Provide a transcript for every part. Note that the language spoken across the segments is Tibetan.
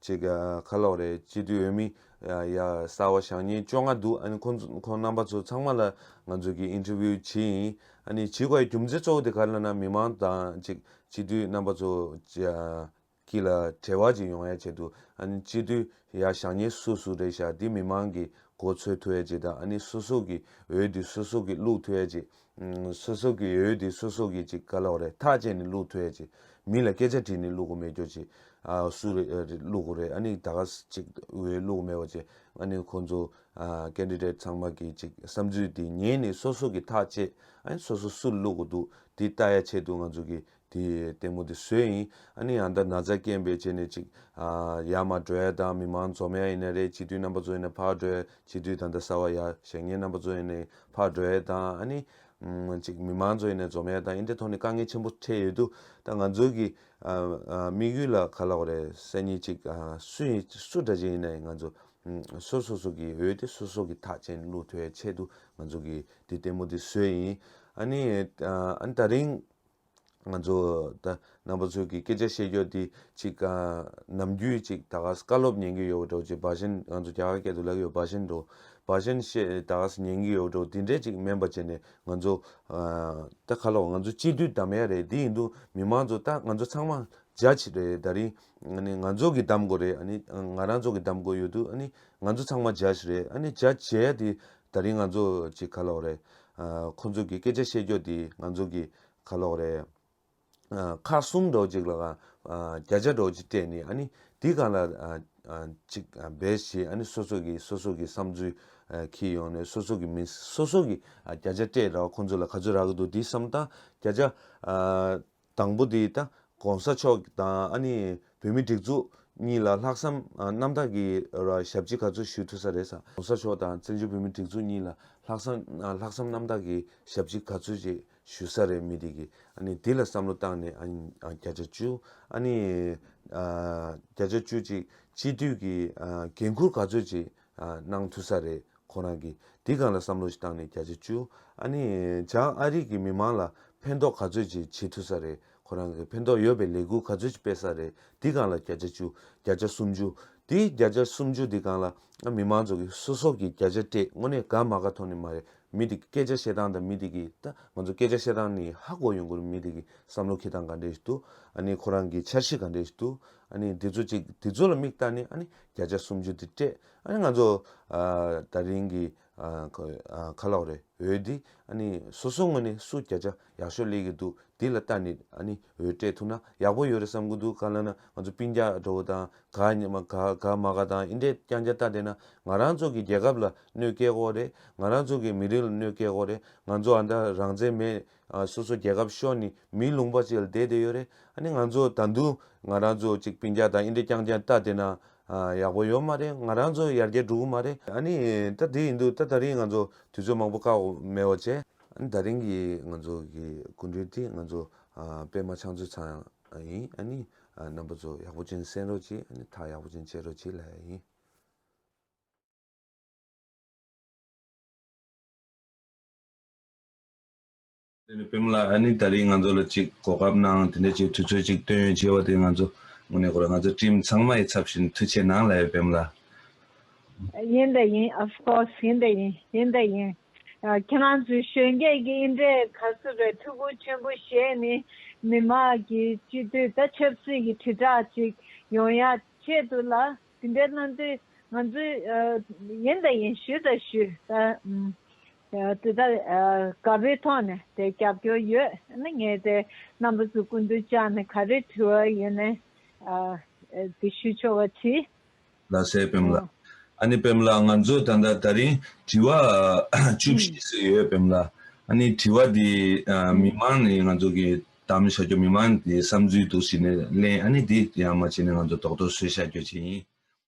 ཅིག་ཁ་ལོག་རེད་སྤྱི་འཐུས་འོས་མི། ཡ། གསར་བ་ཞག་གཉིས་བཅོ་ལྔ་འདུག་ཨ་ནི་ཁོ། ཁོང་རྣམ་པ་ཚོ་ཚང་མ་ལ་ང་ཚོ་གིས interview བྱེད་ཡིན། ཨ་ནི་བྱེད་དགོས་ཡ་རྒྱུ་མཚན་གཙོ་བོ་དེ་ག་ལ་ན་མི་མང་དང་ཅིག་སྤྱི་འཐུས་རྣམ་པ་ཚོ། གྱི་ལ་བྲེལ་བ་ཅིག་ཡོང་ཡ་བྱེད་འདུག་ཨ་ནི་སྤྱི་འཐུས་ཡ་ཞག་གཉིས་སུ་སུ་རེད་ཞག་འདི་མི་མང་གིས་གོ་ཚོད་ཐུ་ཡ་བྱེད་དང་ཨ་ནི་སུ་སུ་གིས་འོས་འདི་སུ་སུ་གིས་བླུག་ཐུ་ཡ་བྱེད་སོ་སོ་གི་ཡོད་དེ་སོ་སོ་གི་ཅིག་དཀའ་ལོག་རེད་ཐག་བཅད་ནས་བླུག་ཐུ་ཡ་ཅིག་མི་ལ་སྐད་ཆ་དྲིས་ནས་བླུག་གོ་མེད་རྒྱོ་ཅིག་སུ་རེད་བླུག་གོ་རེད་ཨ་ནི་ད་ག་ཅིག་འོས་བླུག་མེད་བ་ཅིག་ཨ་ནི་ཁོང་ཚོ Candidate ཚང་མ་གི་ཅིག་བསམ་ཚུལ་དེ་ཉན་ནས་སོ་སོ་གི་ཐག་བཅད་ཨ་ནི་སོ་སོ་སུ་བླུག་གོ་འདུག་དེ་ལྟ་ཡ་ཆེད་དུ་ང་ཚོ་གི་དེ་ལྟད་མོ་དེ་སུའི་ཡིན། ཨ་ནི་ཡང་ད་ན་ཚ་སྐྱེན་པའི་རྗེས་ནས་ཅིག། ཡ་མ་བྲོས་དང་མི་མང་འཛོམས་ཡ་ཡིན་ན་རེད་སྤྱི་འཐུས་རྣམ་པ་ཚོ་ཡིན་ན་ཕར་བྲོས་སྤྱི་འཐུས་དང་ད་ས་བ་ཡ་བཞེངས་ཉེ་རྣམ་པ་ཚོ་ཡིན་ནའི་ཕར་བྲོས་དང་ཨ་ནི། ཅིག་མི་མང་ཚོ་ཡིན་ནའི་འཛོམས་ཡ་དང་ཨིན་དེ་ཐོག་ནས་དཀའ་ངལ་ཆེན་པོ་འཕྲད་ཡོད་དུ་ད་ང་ཚོའི་གི། དམིགས་ཡུལ་ལ་ག་ལ་བ་རེད་སེ་ནི་ཅིག་སུ་ཡིན་སུ་འདྲ་ཅིག་ཡིན་ནའི་ང་ཚོ། སོ་སོ་སོ་གི་འོས་དེ་སོ་སོ་གི་ཐག་ཅན་བླུག་ཐུ་ཡ་ཆེད་དུ་ང་ཚོ་གི་དེ་ལྟད་མོ་དེ་སུའི་ཡིན། ཨ་ནི། ཨ་ནི་ད་རིང། ང་ཚོ་རྣམ་པ་ཚོས་ཀྱི་སྐད་ཆ་བཤད་རྒྱུ་འདི་ཅིག་ནམ་རྒྱུན་ཅིག་ད་གཟས་བཀའ་སློབ་ཉན་གྱི་ཡོད་འགྲོ་ཅིག་འབའ་ཞེན་ང་ཚོ་རྒྱ་གར་སྐད་དུ་ལབ་ཡོད་འབའ་ཞེན་འགྲོ་འབའ་ཞེན་བཤད་ད་གཟས་ཉན་གྱི་ཡོད་འགྲོ་འདི་འདྲས་ཅིག་སྨན་པ་བྱས་ནས་ང་ཚོ་ད་ཁ་ལོ་ང་ཚོ་སྤྱི་འཐུས་གདམ་ཡ་རེད་དེ་ཡིན་དུ་མི་མང་ཚོ་ད་ང་ཚོ་ཚང་མ Judge རེད་ད་རིང་ང་ཚོ་གྱི་གདམ་དགོས་རེད་ང་རང་ཚོ་གྱི་གདམ་དགོས་ཡོད་དུ་ང་ཚོ་ཚང་མ Judge རེད Judge བྱས་ཡ་དེ་ད་རིང་ང་ཚོ་ཅིག་ཁ་ལོ་རེད་ཁོ་ཚོ་གི་སྐད་ཆ་བཤད་རྒྱོ་དེ་ང་ཚོ་གི་ཁ་ལོག་རེད། ཁ་གསུམ་སྒྲོག་གཅིག་ལ་གང་བརྒྱ་ཆ་སྒྲོག་གཅིག་སྤྲད་ནས་ཨ་ནི་དེ་གང་ལ་ཅིག་འབད་ཞེས་ཨ་ནི་སོ་སོ་གི་སོ་སོ་གི་བསམ་ཚུལ་ཁྱེར་ཡོང་ནས་སོ་སོ་གི་མི་སོ་སོ་གི་བརྒྱ་ཆ་སྤྲད་ར་བ་ཁོ་ཚོ་ལ་ག་ཚོད་རག་གི་འདུག་དེ་བསམ་སྟངས་བརྒྱ་ཆ་དང་པོ་དེ་ད་གོང་ས་མཆོག་དང་ཨ་ནི་བོད་མི་སྒྲིགས་འཛུགས་གཉིས་ལ་ལྷག་བསམ་རྣམ་དག་གི་ཞབས་ཕྱི་ག་ཚོད་ཞུ་ཐུབ་ས་རེད་ས་གོང་ས་མཆོག་དང་བཙན་བྱོལ་བོད་མི་སྒྲིགས་འཛུགས་གཉིས་ལ་ལྷག་བསམ་ལྷག་བསམ་རྣམ་དག་གི་ཞབས་ཕྱི་ག་ཚོད་ཅིག་ཞུ་ས་རེད་མི་དེ་གི་ཨ་ནི་དེ་ལ་བསམ་བློ་བཏང་ནས་བརྒྱ་ཆ་བཅུ་ཨ་ནི་བརྒྱ་ཆ་བཅུ་ཅིག་སྤྱི་འཐུས་ཀྱི་འགན་འཁུར་ག་ཚོད་ཅིག་གནང་ཐུབ་ས་རེད་ཁོ་རང་གིས་དེ་ག་ལ་བསམ་བློ་ཞིག་བཏང་ནས་བརྒྱ་ཆ་བཅུ། ཨ་ནི་བྱང་ཨ་རིག་གི་མི་མང་ལ་ཕན་ཐོག་ག་ཚོད་ཅིག་བྱེད་ཐུབ་ས་རེད་ཁོ་རང་གིས་ཕན་ཐོག་ཡོད་པའི་ལས་འགུལ་ག་ཚོད་ཅིག་སྤེལ་ས་རེད་དེ་གང་ལ་བརྒྱ་ཆ་བཅུ་བརྒྱ་ཆ་སུམ་ཅུ། དེ་བརྒྱ་ཆ་སུམ་ཅུ་དེ་གང་ལ་ཨ་མི་མང་ཚོགས་ཀྱིས་སོ་སོ་གིས་བརྒྱ་ཆ་སྤྲད་དངོས་གནས་དགའ་མ་ག་ཐོག་ནས་མ་རེད་མི་དེ་གི་སྐད་ཆ་བཤད་སྟངས་དང་མི་དེ་གི་ད་ང་ཚོ་སྐད་ཆ་བཤད་སྟངས་ནི་ཧ་གོ་ཡོང་དགོས་རེད་མི་དེ་གི་བསམ་བློ་ཁེ་དང་ག་འདྲས་ཞིག་འདུག་ཨ་ནི་ཁོ་རང་གི་འཆར་གཞི་ག་འདྲས་ཞིག་འདུག་ཨ་ནི་དེ་ཚོ་ཅིག་དེ་ཚོ་ལ་མིག་བལྟ་ནས་ཨ་ནི་བརྒྱ་ཆ་སུམ་ཅུ་དེ་སྤྲད། ཨ་ནི་ང་ཚོ་ད་རིང་གི་ཁ་ལོག་རེ་འོས་འདི་ཨ་ནི་སོ་སོ་ངོས་ནས་སུ་བརྒྱ་ཆ་ཡག་ཤོས་ལེགས་ཀྱི་འདུག་འདི་ལ་ལྟ་ནི་ཨ་ནི་འོས་སྤྲད་ཐུབ་ན་ཡག་པོ་ཡོད་རེད་བསམ་གི་འདུག་ག་ལ་ན་ང་ཚོ་པིན་རྒྱ་འགྲོ་བོ་དང་ག་ཉི་མ་ག་ག་མ་ག་དང་ཨིན་དྲས་ཀྱང་རྒྱ་ལྟ་བསྡད་ན་ང་རང་ཚོ་གི་རྒྱལ་ཁབ་ལ་གནོད་སྐྱེལ་དགོ་རེད་ང་རང་ཚོ་གི་མི་རིགས་ལ་གནོད་སྐྱེལ་དགོ་རེད་ང་ཚོ་ཨ་མདའ་རང་བཙན་མེད་སོ་སོ་རྒྱལ་ཁབ་ཤོར་ནས་མིའི་ལུང་པ་ཅིག་ལ་བསྡད་བསྡད་ཡོད་རེད་ཨ་ནི་ང་ཚོ་ད་དུང་ང་རང་ཚོ་ཅིག་པིན་རྒྱ་དང་ཨིན་རི་རྐྱང་རྐྱང་ལྟ་བསྡད་ན་ཡག་པོ་ཡོད་མ་རེད་ང་རང་ཚོ་ཡར་རྒྱས་འགྲོ་གི་མ་རེད་ཨ་ནི་ད་དེ་ཡིན་འདུག་ད་ད་རིང་ང་ཚོ་དུས་ཚོད་མང་པོ་བཀག་འོག་མེད་འོག་བྱས། ཨ་ནི་ད་རིང་གི་ང་ཚོ་གི་སྐུ་མགྲོན་དེ་ང་ཚོ་པད་མ་ཕྱག་མཛོད་ཚང་ཡིན་ཨ་ནི་རྣམ་པ་ཚོ་ཡག་པོ་ཅན་གསན་རོགས་གྱིས་ཨ་ནི་ཐག་ཡག་པོ་ཅན་བཅད་རོགས་གྱིས་ལེ་ཡིན། དེ་ནས་བེམ་ལ་ཨ་ནི་ད་རིས་ང་ཚོ་ལ་ཅིག་གོ་སྐབས་གནང་དེ་འདྲ་ཅིག་དུས་ཚོད་ཅིག་སྟོན་ཡོད་ཅེས་བ་དེ་ང་ཚོ་དངོས་གནས་གོ་ར་ང་ཚོ་སྤྲིན་ཚང་མ་ཡི་ཚབ་བཞིན་མཐུ་ཆེ་གནང་ལ་ཡོད་བེམ་ལ། ཡིན་དེ་ཡིན of course ཡིན་དེ་ཡིན་ཡིན་དེ་ཡིན། ཁྱེད་རང་ཚོའི་གཞོན་སྐྱེས་ཀྱི་ཨིན་འདྲའི་ག་ཚོད་པའི་ཐུགས་ཁུར་ཆེན་པོ་ཞེས་ནི་མི་དམངས་ཀྱི་སྤྱི་མཐུས་ད་ཆབ་སྲིད་ཀྱི་དྲིལ་བསྒྲགས་ཅིག་ཡོང་ཡ་ཆེད་དུ་ལ་དེ་འདྲ་གནང་དུས་ང་ཚོས་ཡིན་དེ་ཡིན་ཞུས་དེ་ཞུས་ད། དེ་ལྟར་དགའ་བའི་ཐོག་ནས་དེ་རྒྱབ་སྐྱོར་ཡོད་ན་ངས་དེ་རྣམ་པ་ཚོ་ཀུན་ཏུ་བཅག་ནས་ག་རེ་དྲི་བ་ཡོད་ན་དེ་ཞུ་ཆོག་པ་དྲིས། རྡ་སའི་བེམ་ལ། ཨ་ནི་བེམ་ལ་ང་ཚོས་ད་ལྟ་ད་རིང་དྲི་བ་བཅུ་བཞི་ཟིག་ཡོད་བེམ་ལ། ཨ་ནི་དྲི་བ་དེ་མི་མང་ནས་ང་ཚོ་གི་དམ་བཞག་རྒྱུ་མི་མང་དེ་བསམ་ཚུལ་འདུག་ཞིག་ནས་གླེང་ཨ་ནི་དེ་ཡང་མ་བྱས་ནས་ང་ཚོ་དོག་དོག་སུས་བཞག་རྒྱུ་བྱས་ཡིན།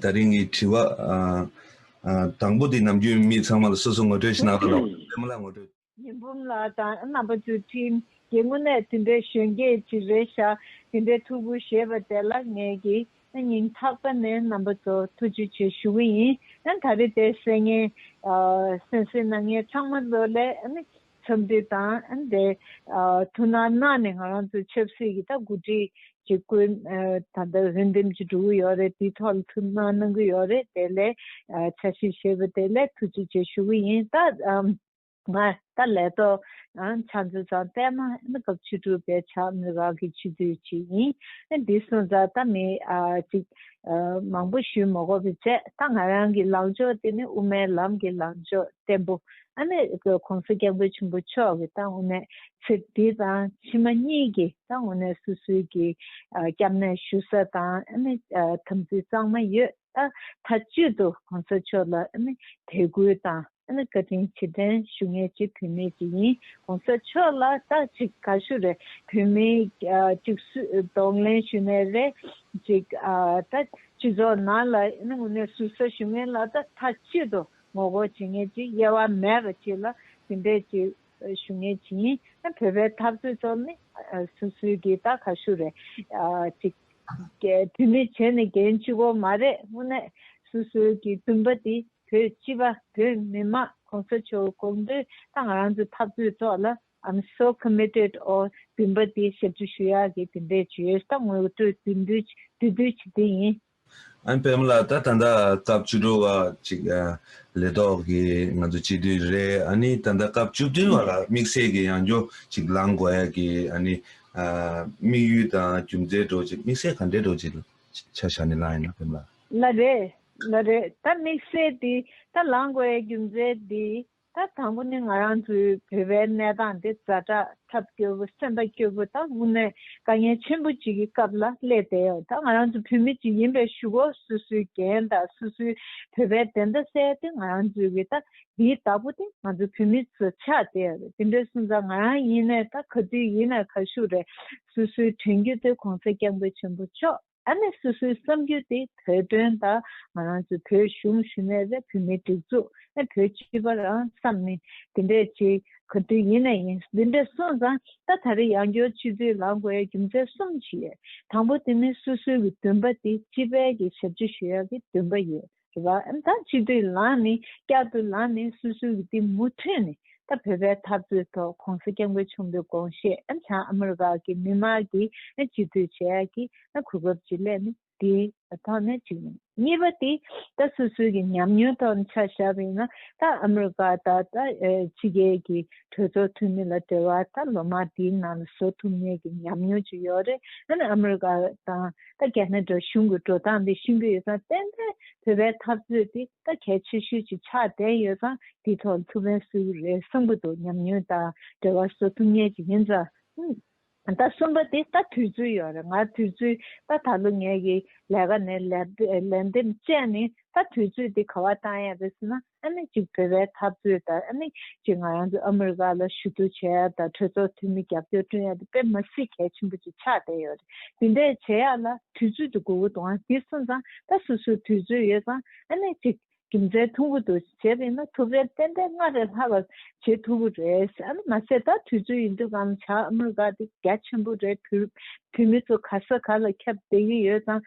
ད་རིང་གི་དྲི་བ། དང་པོ་དེ་ནམ་རྒྱུན་མི་ཚང་མ་ལ་སོ་སོ་ངོ་སྤྲོད་ཞིག་གནང་ཐུབ་ན་འོས་འདུག་མི་ལ་ངོ་སྤྲོད། ཉི་འབུམ་ལགས་དང་རྣམ་པ་ཚུལ་ཁྲིམས་རྒྱལ་དངོས་གནས་དེ་འདྲའི་གཞོན་སྐྱེས་ཅིག་རེད་ཤག་དེ་འདྲའི་ཐུགས་ཁུར་བཞེས་པ་དེ་ལ་ངས་ཀྱི་ན་སྙིང་ཐག་པ་ནས་རྣམ་པ་ཚོ་ཐུགས་རྗེ་ཆེ་ཞུ་གི་ཡིན་ད་རེ་དེ་སེ་ངས་སེམས་སེ་ན་ངས་ཚང་མ་ལོ་ལེགས་འཚམས་འདྲི་དང། དེ་ཐུགས་སྣང་གནང་ནས་ང་རང་ཚོའི་ཆབ་སྲིད་ཀྱི་ད་མགོ་ཁྲིད་ཀྱི་བཀོད་ད་ལྟ་འོས་འདེམས་ཀྱི་འགྲོ་གི་ཡོད་རེད་དེའི་ཐོག་ལ་ཐུགས་སྣང་གནང་གི་ཡོད་རེད་དེ་ལས་འཆར་གཞི་བྱས་པ་དེ་ལས་ཐུགས་རྗེ་ཆེ་ཞུ་གི་ཡིན་ད་ང་ད་ལས་ཐོག་ཕྱག་མཛོད་ཚང་བསྟན་མ་སྐབས་བཅུ་དྲུག་པའི་ཕྱག་མི་རང་གི་ཆིག་སྒྲིལ་ཅིག་ཡིན་འདི་སོང་ཙང་ད་མི་ཅིག་མང་པོ་ཞུས་མ་གོ་བའི་ཚད་ད་ང་རང་གི་ལངས་ཕྱོགས་དེ་ནི་དབུ་མའི་ལམ་གྱི་ལངས་ཕྱོགས་བརྟན་པོ་ཨ་མེ་རི་ཁའི་གོང་ས་སྐྱབས་མགོན་ཆེན་པོ་མཆོག་གི་ཏང་ཨུ་ནས་ཚེ་འདི་དང་ཕྱི་མ་གཉིས་ཀྱི་ཏང་ཨུ་ནས་སོ་སོའི་གི་སྐྱབས་གནས་ཞུ་ས་དང་ཨ་མེ་དམ་ཚིག་གཙང་མ་ཡོད་ཨ་ཐ་ཅུད་དུ་གོང་ས་མཆོག་ལ་ཨ་མེ་དད་གུས་དང་ཨ་མེ་བཀའ་དྲིན་ཆེ་དྲན་ཞུ་ངེས་ཅི་བུད་མེད་ཅིག་ཡིན་གོང་ས་མཆོག་ལ་རྟགས་གཅིག་ག་ཞུ་རེད་བུད་མེད་གཅིག་གསུས་གདོང་ལེན་ཞུ་ནས་རེད་གཅིག་ཨ་ཐ་ཅུད་ཚོགས་ནང་ལ་ཨ་མེ་ངོ་ནས་ཞུ་ས་ཞུ་ངེས་ལ་ཨ་ཐ་ཅུད་དུ། ངོ་རྒོལ་བྱེད་ངེས་ཀྱི་དབྱེ་བ་མེད་པ་ཅིག་ལ་དེ་འདྲས་ཅིག་ཞུ་ངེས་ཀྱི་ཡིན། བོད་པའི་འཐབ་རྩོད་ཚོགས་མི་སུ་སུའི་གི་ད་ག་ཤུ་རེད་ཅིག། བོད་མི་བྱས་ནས་འགན་ལྕི་བོ་མ་རེད་དངོས་གནས་སུ་སུ་གི་འདུན་པ་དེ་བོད་སྤྱི་པ་བོད་མི་དམངས་གོང་ས་མཆོག་དགོངས་དོན་ད་ང་རང་ཚོའི་འཐབ་རྩོད་ཚོགས་ལ I'm so committed or འདུན་པ་དེ་ཞབས་ཞུ་ཞུ་ཡག་གི་དེ་འདྲས་ཅིག་ཡོད་ད་ངོ་སྤྲོད་དུས་འདུས་བྱས་དེ་ཡིན། ཨན་པད་མ་ལགས་ད་ད་ལྟ་སྐབས་བཅུ་དྲུག་བ་ཅིག་ལས་ཐོག་གི་ང་ཚོ་སྤྱི་འཐུས་རེད་ཨ་ནི་ད་ལྟ་སྐབས་བཅུ་བདུན་བ་ལ་དམིགས་བསལ་གྱི་ཡང་སྐྱོ་ཅིག་ལང་དགོས་ཡ་གི་ཨ་ནི་དམིགས་ཡུལ་དང་རྒྱུ་མཚན་སྒྲོག་ཅིག་དམིགས་བསལ་ག་འདྲས་སྒྲོག་ཅིག་ཆ་ཞག་ནི་ལང་ཡིན་ན་པད་མ་ལགས། ན་རེད་ན་རེད་ད་དམིགས་བསལ་དེ་ད་ལང་དགོས་ཡའི་རྒྱུ་མཚན་དེ་ད་དང་པོ་ནི་ང་རང་ཚོའི་བོད་པའི་གནས་སྟངས་འདི་རྫ་དྲག་ཐབས་སྐྱོ་པོ་སེམས་པ་སྐྱོ་པོ་དང་དངོས་གནས་དཀའ་ངལ་ཆེན་པོ་གཅིག་གི་སྐབས་ལ་སླེབས་ཏེ་ད་ང་རང་ཚོ་བོད་མི་གཅིག་ཡིན་པའི་ཞུ་སྒོ་སུ་སུའི་འགན་དང་སུ་སུའི་བོད་པའི་བདེན་མཐའ་གསལ་ཏེ་ང་རང་ཚོའི་གི་ད་འདིའི་བདག་པོ་སྟེ་ང་ཚོ་བོད་མི་ཚོ་ཆགས་ཏེ་འདི་འདྲའི་སུན་ཙང་ང་རང་ཡིན་ནས་ད་ག་དུས་ཡིན་ན་ག་ཤུགས་རེད་སུ་སུའི་དྲན་རྒྱུ་དེ་གོང་ས་སྐྱབས་མགོན་ཆེན་པོ་མཆོག། ད་ནི་སོ་སོའི་བསམ་རྒྱུ་དེ་བོད་དོན་དང་ང་རང་ཚོའི་བོད་གཞུང་ཞུ་ནས་བཟའ་བོད་མིའི་སྒྲིག་འཛུགས་ཨེ་བོད་སྤྱི་པ་རང་བསམ་ནི་དེ་འདྲས་བྱེད་ག་དུས་ཡིན་ན་ཡིན་འདི་འདྲས་སོང་ཙང་ད་ད་རེ་ཡང་སྐྱོར་སྤྱི་འཐུས་ལང་དགོས་ཡ་རྒྱུ་མཚན་གསུམ་ཞིག་ཡོད་དང་པོ་དེ་ནི་སོ་སོའི་གི་འདུན་པ་དེ་སྤྱི་པའི་གི་ཞབས་སྤྱི་ཞུ་ཡ་གི་འདུན་པ་ཡོད། ཟེར་བ་ད་སྤྱི་འཐུས་ལངས་ནས་བསྐྱར་དུ་ལངས་ནས་སུ་སུ་གི་དེ་མུ་མཐུད་ནས་ད་བོད་པའི་འཐབ་རྩོད་ཐོག་གོང་ས་སྐྱབས་མགོན་ཆེན་པོའི་དགོངས་བཞེད་ལྷན་ཨ་མི་རི་ཀ་གི་མི་མང་གི་སྤྱི་འཐུས་བྱས་ཀྱི་གོ་སྐབས་ཅིག་ལས་ནི་དེ་ཐོག་ནས་གཅིག་ཡིན་གཉིས་པ་དེ་ད་སུ་སུ་གི་ཉམས་མྱོང་ཐོག་ནས་ཆ་བཞག་པའི་ན་ད་ཨ་མི་རི་ཀ་ད་ད་ཕྱི་རྒྱལ་གྱི་གྲོས་ཚོགས་འཐུས་མི་ལ་བྲེལ་བ་ད་ལོ་མང་དེའི་ནང་ལ་བཟོ་ཐུབ་མེད་གི་ཉམས་མྱོང་ཅིག་ཡོད་རེད་ཨ་མི་རི་ཀ་དང། ད་རྒྱ་ནག་འབྲོག་གཞུང་གི་འགྲོ་སྟངས་འདི་ཤིན་པོ་ཡོད་ཙང་བསྟན་པའི་བོད་པའི་འཐབ་རྩོད་འདི་ད་གལ་ཆེ་ཤོས་ཅིག་ཆགས་བསྡད་ཡོད་ཙང་འདི་ཐོག་མཐུ་བོན་སུ་རེད་བསམ་གྱི་འདུག་ཉམས་མྱོང་དང་འབྲེལ་བ་བཟོ་ཐུབ་ངེས་ཅིག་ཡིན་ཙང་ད་གསུམ་པ་འདི་ད་དུས་ཚོད་ཡོད་རེད་ང་དུས་ཚོད་ད་ད་ལོ་ངེད་ཀྱི་ལས་ཀ་ནས་ལས་འདེམས་བཅས་ནས་ད་དུས་ཚོད་འདི་ག་བ་བཏང་ཡ་རེད་ཟེར་ན་ཨ་མེས་ཅིག་བོད་པའི་འཐབ་རྩོད་དང་ཨ་མེས་ཅིག་ང་རང་ཚོ་ཨ་མི་རི་ཀ་ལ་ཞུ་གཏུག་བྱེད་ཡ་དང་གྲོས་ཚོགས་འཐུས་མི་རྒྱབ་སྐྱོར་བསྐྲུན་ཡ་དེ་དཔེ་མ་སི་གལ་ཆེན་པོ་ཅིག་ཆགས་བསྡད་ཡོད་རེད་དེ་འད་བྱེད་ཡ་ལ་དུས་ཚོད་དུ་དགོས་གོ་འདུག་ཨང་དེ་སུན་ཙང་ད་སུ་སུ་དུས་ཚོད་ཡོད་ཙང་ཨ་མེས་ཅིག་རྒྱུ་མཚན་ཐུང་གོ་འདུག་བྱེད་པ་ཡིན་ན་ཐུབ་རེད་ཏན་ཏན་སྔ་རེ་ལྷ་བར་བྱེད་ཐུབ་གོ་རེད་ཨ་མ་སེ་ད་དུས་ཚོད་ཡིན་འདུག་ཨང་བྱ་ཨ་མི་རི་ཀ་དེ་རྒྱ་ཆེན་པོ་རེད་བོད་མི་ཚོ་ག་ས་ག་ལ་ཁྱབ་བསྡད་ཀྱི་ཡོད་ཙང།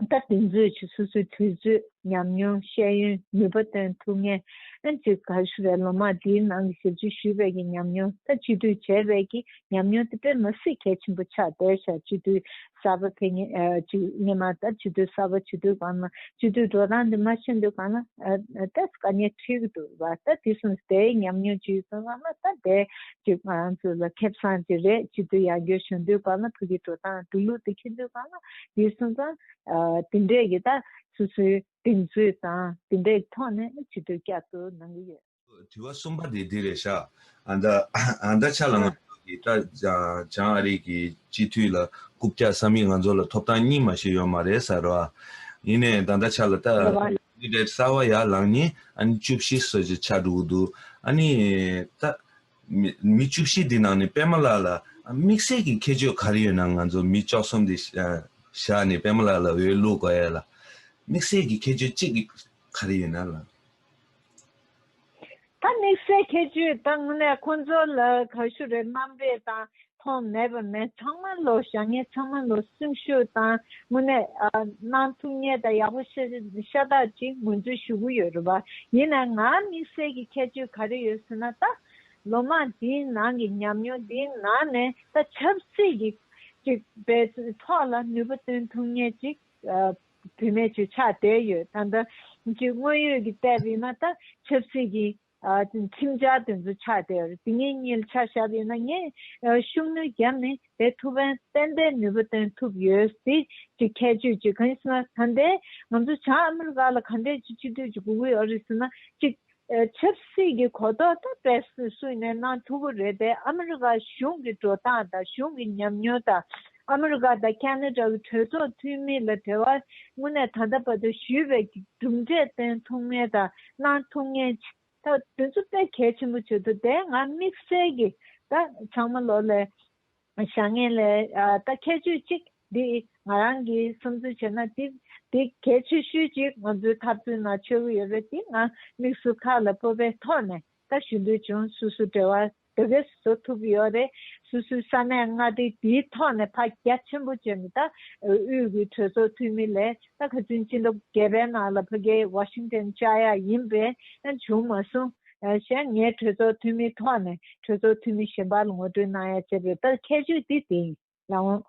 ད་དུས་མཛོད་ཀྱི་སོ་སོའི་དུས་ཚོད་ཉམས་མྱོང་ཤེས་ཡོན་ནུས་པ་བཏོན་ཐུབ་ངེས། ཨན་ཅི་ག་ཤི་བས་ལོ་མང་འདིའི་ནང་གི་ཞབས་ཕྱི་ཞུས་པའི་ཀྱི་ཉམས་མྱོང་ད་སྤྱི་འཐུས་བྱས་པའི་ཀྱི་ཉམས་མྱོང་དེ་དཔེ་མ་སྲིད་གལ་ཆེན་པོ་ཆགས་བསྡད་ཤག་སྤྱི་འཐུས་གསར་པ་དེ་ངེས་ངེས་མ་ད་སྤྱི་འཐུས་གསར་པ་སྤྱི་འཐུས་གང་ན་སྤྱི་འཐུས་འགྲོ་སྟངས་དེ་མ་ཤེས་འདུག་གང་ན་ད་སྐ་ཉེ་ཁྲིག་འདུག་བ་ད་དེ་སོང་ཟིག་དེའི་ཉམས་མྱོང་ཅི་ཡོད་ཚང་མ་ད་དེ་ཀྱི་ང་ཚོ་ལ་ཁེབས་སངས་ཀྱི་རེད་སྤྱི་འཐུས་ཡར་འགྱོད་བྱུང་དུས་གང་ན་བུ་གི་འགྲོ་སྟངས་འགྲོ་ལུགས་དེ་ཁེ་འདུག་གང་ན་དེར་སོང་ཙང་དེ་འདྲས་ཀྱི་ད་སོ་སོའི་གདེང་ཚོད་དང་དེ་འདྲས་ཐོག་ནས་ཇི་ལྟར་བསྐྱར་དུ་གནང་གི་ཡོད། དྲི་བ་གསུམ་པ་དེ་འདི་རེད་ཤག་ཨ་ད་ཨ་ད་ཆ་ལ་ང་ཚོ་གི་ཀྲ་ཅང་ཨ་རིག་གི་སྤྱི་འཐུས་ལ་རྐུབ་བཀྱག་བསམ་ཡིག་ང་ཚོ་ལ་ཐོབ་ཐང་གཉིས་མ་ཞིག་ཡོད་མ་རེད་ཟེར་རོ་ཨ་ཡིན་ནས་ད་ད་ཆ་ལ་ད་ལེ་བ། འདི་འདྲས་གསར་བ་ཡར་ལངས་ནས་ཨ་ནི་བཅུ་བཞི་སོ་བཞི་ཆགས་འགྲོ་གི་འདུག་ཨ་ནི་ད་མི་བཅུ་བཞི་དེ་ནང་ནས་པད་མ་ལགས་ལ་དམིགས་བསལ་གྱི་ཁྱད་ཆོས་ག་རེ་ཡོད་ན་ང་ཚོ་མི་བཅོ་གསུམ་དེ་བཞག་ནས་པད་མ་ལགས་ལ་འོས་བླུགས་དགོས་ཡ་ལ། དམིགས་བསལ་གྱི་ཁྱད་ཆོས་གཅིག་ག་རེ་ཡོད་ན་ལ། ད་དམིགས་བསལ་ཁྱད་ཆོས་དང་ལས་ཁོང་ཚོ་ལ་ག་ཞུ་རེ་གནང་རེ་དང་ཐོག་མེད་པ་མེད་ཚང་མ་ལོ་བྱ་ངན་ཚང་མ་ལོ་སེམས་ཤུགས་དང་དངོས་གནས་གནང་ཐུབ་ངེས་དང་ཡག་པོ་ཤ་སྟག་ཅིག་ངོས་འཛུགས་ཞུ་གི་ཡོད་རེད་བ་ཡིན་ན་ང་དམིགས་བསལ་གྱི་ཁྱད་ཆོས་ག་རེ་ཡོད་ཟེར་ན་ད་ལོ་མང་འདིའི་ནང་གི་ཉམས་མྱོང་འདིའི་ནང་ནས་ད་ཆབ་སྲིད་ཀྱི་ཅིག་པའི་ཐོག་ལ་ནུས་པ་བཏོན་ཐུབ་ངེས་ཅིག་བུད་མེད་ཆུ་ཆགས་དེ་ཡོད་ད་ལྟ་ཅིག་དངོས་ཡོད་ཀྱི་བལྟས་པས་ན་ད་ཆབ་སྲིད་ཀྱི་ཁྱིམ་བྱ་དེ་ཚོ་ཆགས་དེར་དེ་ངའི་གཉེར་ཆགས་ཞབས་ཡིན་ན་ངས་ཤུགས་ནུས་བརྒྱབ་ནས་བེད་ཐུབ་བན་དཔལ་ལྡན་ནུས་པ་བཏོན་ཐུབ་ཡོད་ཟེ་གཅིག་ཁྱད་ཆོས་གཅིག་གང་ཡིན་ཟེར་ན་ད་འདས་ང་ཚོ་བྱང་ཨ་མི་རི་ཀ་ལ་ག་འདྲས་ཀྱི་སྤྱི་འཐུས་ཀྱི་གུ་གུལ་ཨ་རི་ཟེར་ན་གཅིག་ཆབ་སྲིད་ཀྱི་གོ་རྟོགས་ད་བེད་སུས་ནས་གནང་ཐུབ་བོ་རེད་པས་ཨ་མི་རི་ཀ་གཞུང་གི་འགྲོ་སྟངས་དང་གཞུང་གི་ཉམས་མྱོང་དང། ཨ་མི་རི་ཀ་དང་ཀན་ལྷོ་ཀྲའུ་གྲོས་ཚོགས་འཐུས་མི་ལ་དེ་བར་ངོ་ནས་ད་ལྟ་བར་དུ་ཞུས་པའི་གྲུབ་འབྲས་བསྟན་ཐུབ་ངེས་དང་གནང་ཐུབ་ངེས། ད་དུས་ཚོད་དཔེ་གལ་ཆེན་པོ་བྱེད་དུ་དེ་ང་དམིགས་བསལ་གྱི་ད་ཚང་མ་ལོ་ལེ་བཞག་ངེས་ལེ་ད་ཁྱད་ཆོས་གཅིག་འདི་ང་རང་གིས་བསམ་ཚུལ་བྱས་ན་དེ་དེ་གལ་ཆེ་ཤོས་གཅིག་ང་ཚོའི་འཐབ་རྩོད་ནང་འཆོལ་གི་ཡོད་རེད་དེ་ང་དམིགས་སུ་ཁ་ལ་སྤོབས་པའི་ཐོག་ནས་ད་ཞུ་འདོད་བྱུང་སུ་སུ་འབྲེལ་བ་དེ་བས་བཟོ་ཐུབ་ཡོད་རེད། སུད་སུའི་ས་གནས་མངའ་སྡེ་དེའི་ཐོག་ནས་བག་རྒྱ་ཆེན་པོ་བྱས་ནས་ད་དབུས་ཀྱི་གྲོས་ཚོགས་འཐུས་མི་ལས་ད་ག་ཚོད་ཅི་འདུག་རྒྱལ་བའི་ནང་ལ་ཕ་རྒྱལ Washington བཅའ་ཡག་ཡིན་པས་ཡང་བྱུང་མ་སོང། གཞན་ངས་གྲོས་ཚོགས་འཐུས་མིའི་ཐོག་ནས་གྲོས་ཚོགས་འཐུས་མི་གཞན་པར་ངོ་སྤྲོད་གནང་ཡག་བྱས་པའི་ད་ཁྱད་ཆོས་དེ་དེ་ཡིན། ལ་འོངས།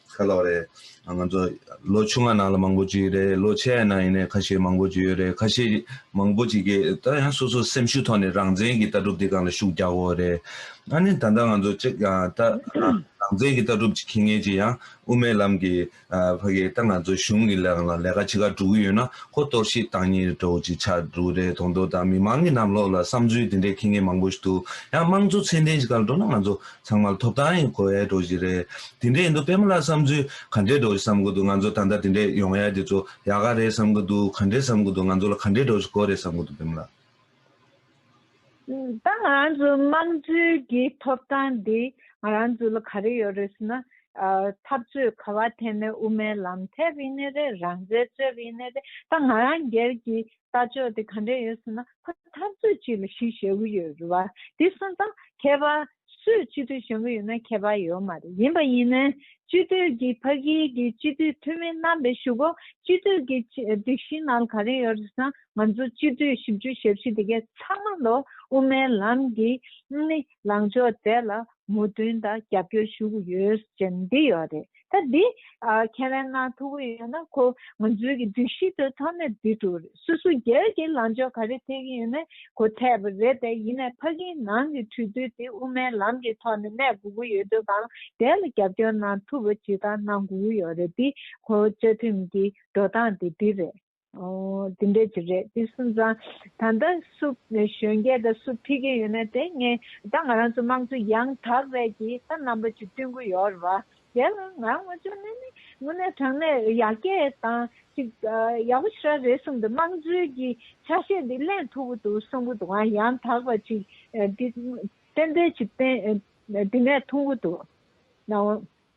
ཁ་ལོ་རེད། ང་ཚོ་ལོ་ཆུང་བ་ནང་ལ་མང་པོ་བྱས་ཡོད་རེད། ལོ་ཆེ་བ་ནང་ཡིན་ནའི་ཁ་ཤས་མང་པོ་བྱས་ཡོད་རེད། ཁ་ཤས་མང་པོ་བྱས་ཀྱི་ད་ཡང་སོ་སོ་སེམས་ཤུགས་ཐོག་ནས་རང་བཙན་གྱི་ལྟ་གྲུབ་དེ་གང་ལ་ཤུགས་རྒྱག་དགོས་རེད། ཨ་ནི་ད་ལྟ་ང་ཚོ་གཅིག་ཡང་ད་རང་བཙན་གྱི་ལྟ་གྲུབ་ཅིག་མཁྱེན་མཁན་ཅིག་ཡང་དབུ་མའི་ལམ་གྱི་ཕ་གིས་ད་ང་ཚོ་གཞུང་གི་ལག་ལ་ལས་ཀ་ཆེ་ཁག་བསྒྲུབ་ཀྱི་ཡོད་ན་ཁོ་གཏོར་བཤིག་བཏང་ཉེན་རེ་གྲོགས་ཅིག་ཆགས་འགྲོ་རེད་དོང་དོ་ད་མི་མང་གི་ནམ་ལོག་ལ་བསམ་ཚུལ་དེ་འདྲའི་མཁྱེན་མཁན་མང་པོ་ཞིག་འདུག་ཡང་དམངས་གཙོ་ཚད་ལྡན་ཞིག་ག་ལ་འགྲོ་ན་ང་ཚོ་ཚང་མ་ཐོབ་ཐང་གི་གོ་ཡས་འགྲོ་བཞིན་རེད། དེ་འདྲས་ཡིན་འདུག་དཔེ་མོ་ལ་བསམ་ཚུལ་ག་འདྲས་འགྲོ་བཞིན་བསམ་གི་འདུག་ང་ཚོ་ད་ལྟ་དེ་འདྲས་ཡོང་ཡས་དེ་ཚོ་ཡག་ག་རེད་བསམ་གི་འདུག་ག་འདྲས་བསམ་གི་འདུག་ང་ཚོ་ལ་ག་འདྲས་འགྲོ་བཞིན་གོ་རེད་བསམ་གི་འདུག་དཔེ་མོ་ལགས། ད་ང་རང་ཚོའི་དམངས་གཙོའི་གི་ཐོབ་ཐང་འདི་ང་རང་ཚོ་ལ་ག་རེ་ཡོད་རེད་ཟེར་ན། འཐབ་རྩོད་ག་བ་ཐད་ནས་དབུ་མའི་ལམ་ཐད་ཡིན་ནི་རེད་རང་བཙན་རྩོད་ཡིན་ནི་རེད་ད་ང་རང་སྒེར་གྱི་ལྟ་ཕྱོགས་དེ་ག་འདྲས་ཡོད་ཟེར་ན། ཁོ་འཐབ་རྩོད་ཅིག་ལ་ཞུགས་བཞག་གི་ཡོད་རེད་བ། དེ་གསུངས་དང། མཁས་པ། སུས་སྤྱི་འཐུས་བྱུང་གི་ཡོད་ན་མཁས་པ་ཡོད་མ་རེད་ཡིན་པ་ཡིན་ན། སྤྱི་འཐུས་ཀྱི་ཕ་གིའི་གི་སྤྱི་འཐུས་འཐུས་མི་རྣམ་པས་ཞུ་གོ། སྤྱི་འཐུས་ཀྱི་སྒྲིག་གཞི་ནང་ག་རེ་ཡོད་རེད་ཟང་ང་ཚོ་སྤྱི་འཐུས་ཞིབ་འཇུག་ཞབས་ཕྱི་དེ་གས་ཚང་མ་ལོ་དབུ་མའི་ལམ་གི། ལངས་ཕྱོགས་བརྩད་ལ་མུ་མཐུན་དང་རྒྱབ་སྐྱོར་ཞུ་གི་ཡོད་ཅེས་འདི་ཡོད་རེད་ད་འདི། ཁྱེད་རང་ནང་ཐུག་གི་ཡོད་ན་ཁོ་ང་ཚོའི་གི་སྒྲིག་གཞི་དེ་ཐོག་ནས་འདི་འགྲོ་རེད་སུ་སུ་རྒྱལ་གྱི་ལངས་ཕྱོགས་ག་རེ་འཐད་གི་ཡོད་ནའི་གོ་འཐད་པ་རེད་དེ་ཡིན་ནའི་ཕ་གིའི་ནང་གི་གྲོས་བསྡུར་དེ་དབུ་མའི་ལམ་གི་ཐོག་ནས་གནས་དགོས་གི་ཡོད་དུས་གང་དེ་ལ་རྒྱབ་སྐྱོར་གནང་ཐུབ་པ་ཇི་ལྟར་གནང་དགོས་གི་ཡོད་རེད་འདི་ཁོ་བོ་བཅའ་ཁྲིམས་གི་འགྲོ་སྟངས་དེ་འདི་རེད། དེ་འདྲས་ཀྱི་རེད་དེ་སུན་ཙང་ད་ལྟ་སུ་གཞོན་སྐྱེས་དང་སུ་ཕི་གི་ཡོད་ན་དེ་ངས་ད་ང་རང་ཚོ་དམངས་གཙོ་ཡང་དག་རེད་ཀྱི་ད་རྣམ་པ་ཅིག་བསྐྲུན་གི་ཡོད་རེད་བ། དེ་ལ་ང་རང་ངོ་ཅོག་ནས་ནི་དངོས་གནས་དྲང་གནས་ཡར་རྒྱས་དང་ཅིག་ཡག་པོ་ཞིག་ར་རེད་གསུངས་འདུག་དམངས་གཙོའི་གི་ཆ་ཤས་འདི་གླེང་ཐུབ་པོ་འདུག་གསུངས་གི་འདུག་ང་ཡང་དག་པ་ཅིག་འདི་གཏན་འབེབས་ཅིག་གཏན་དེ་ནས་ཐུང་གི་འདུག་ན་འོང།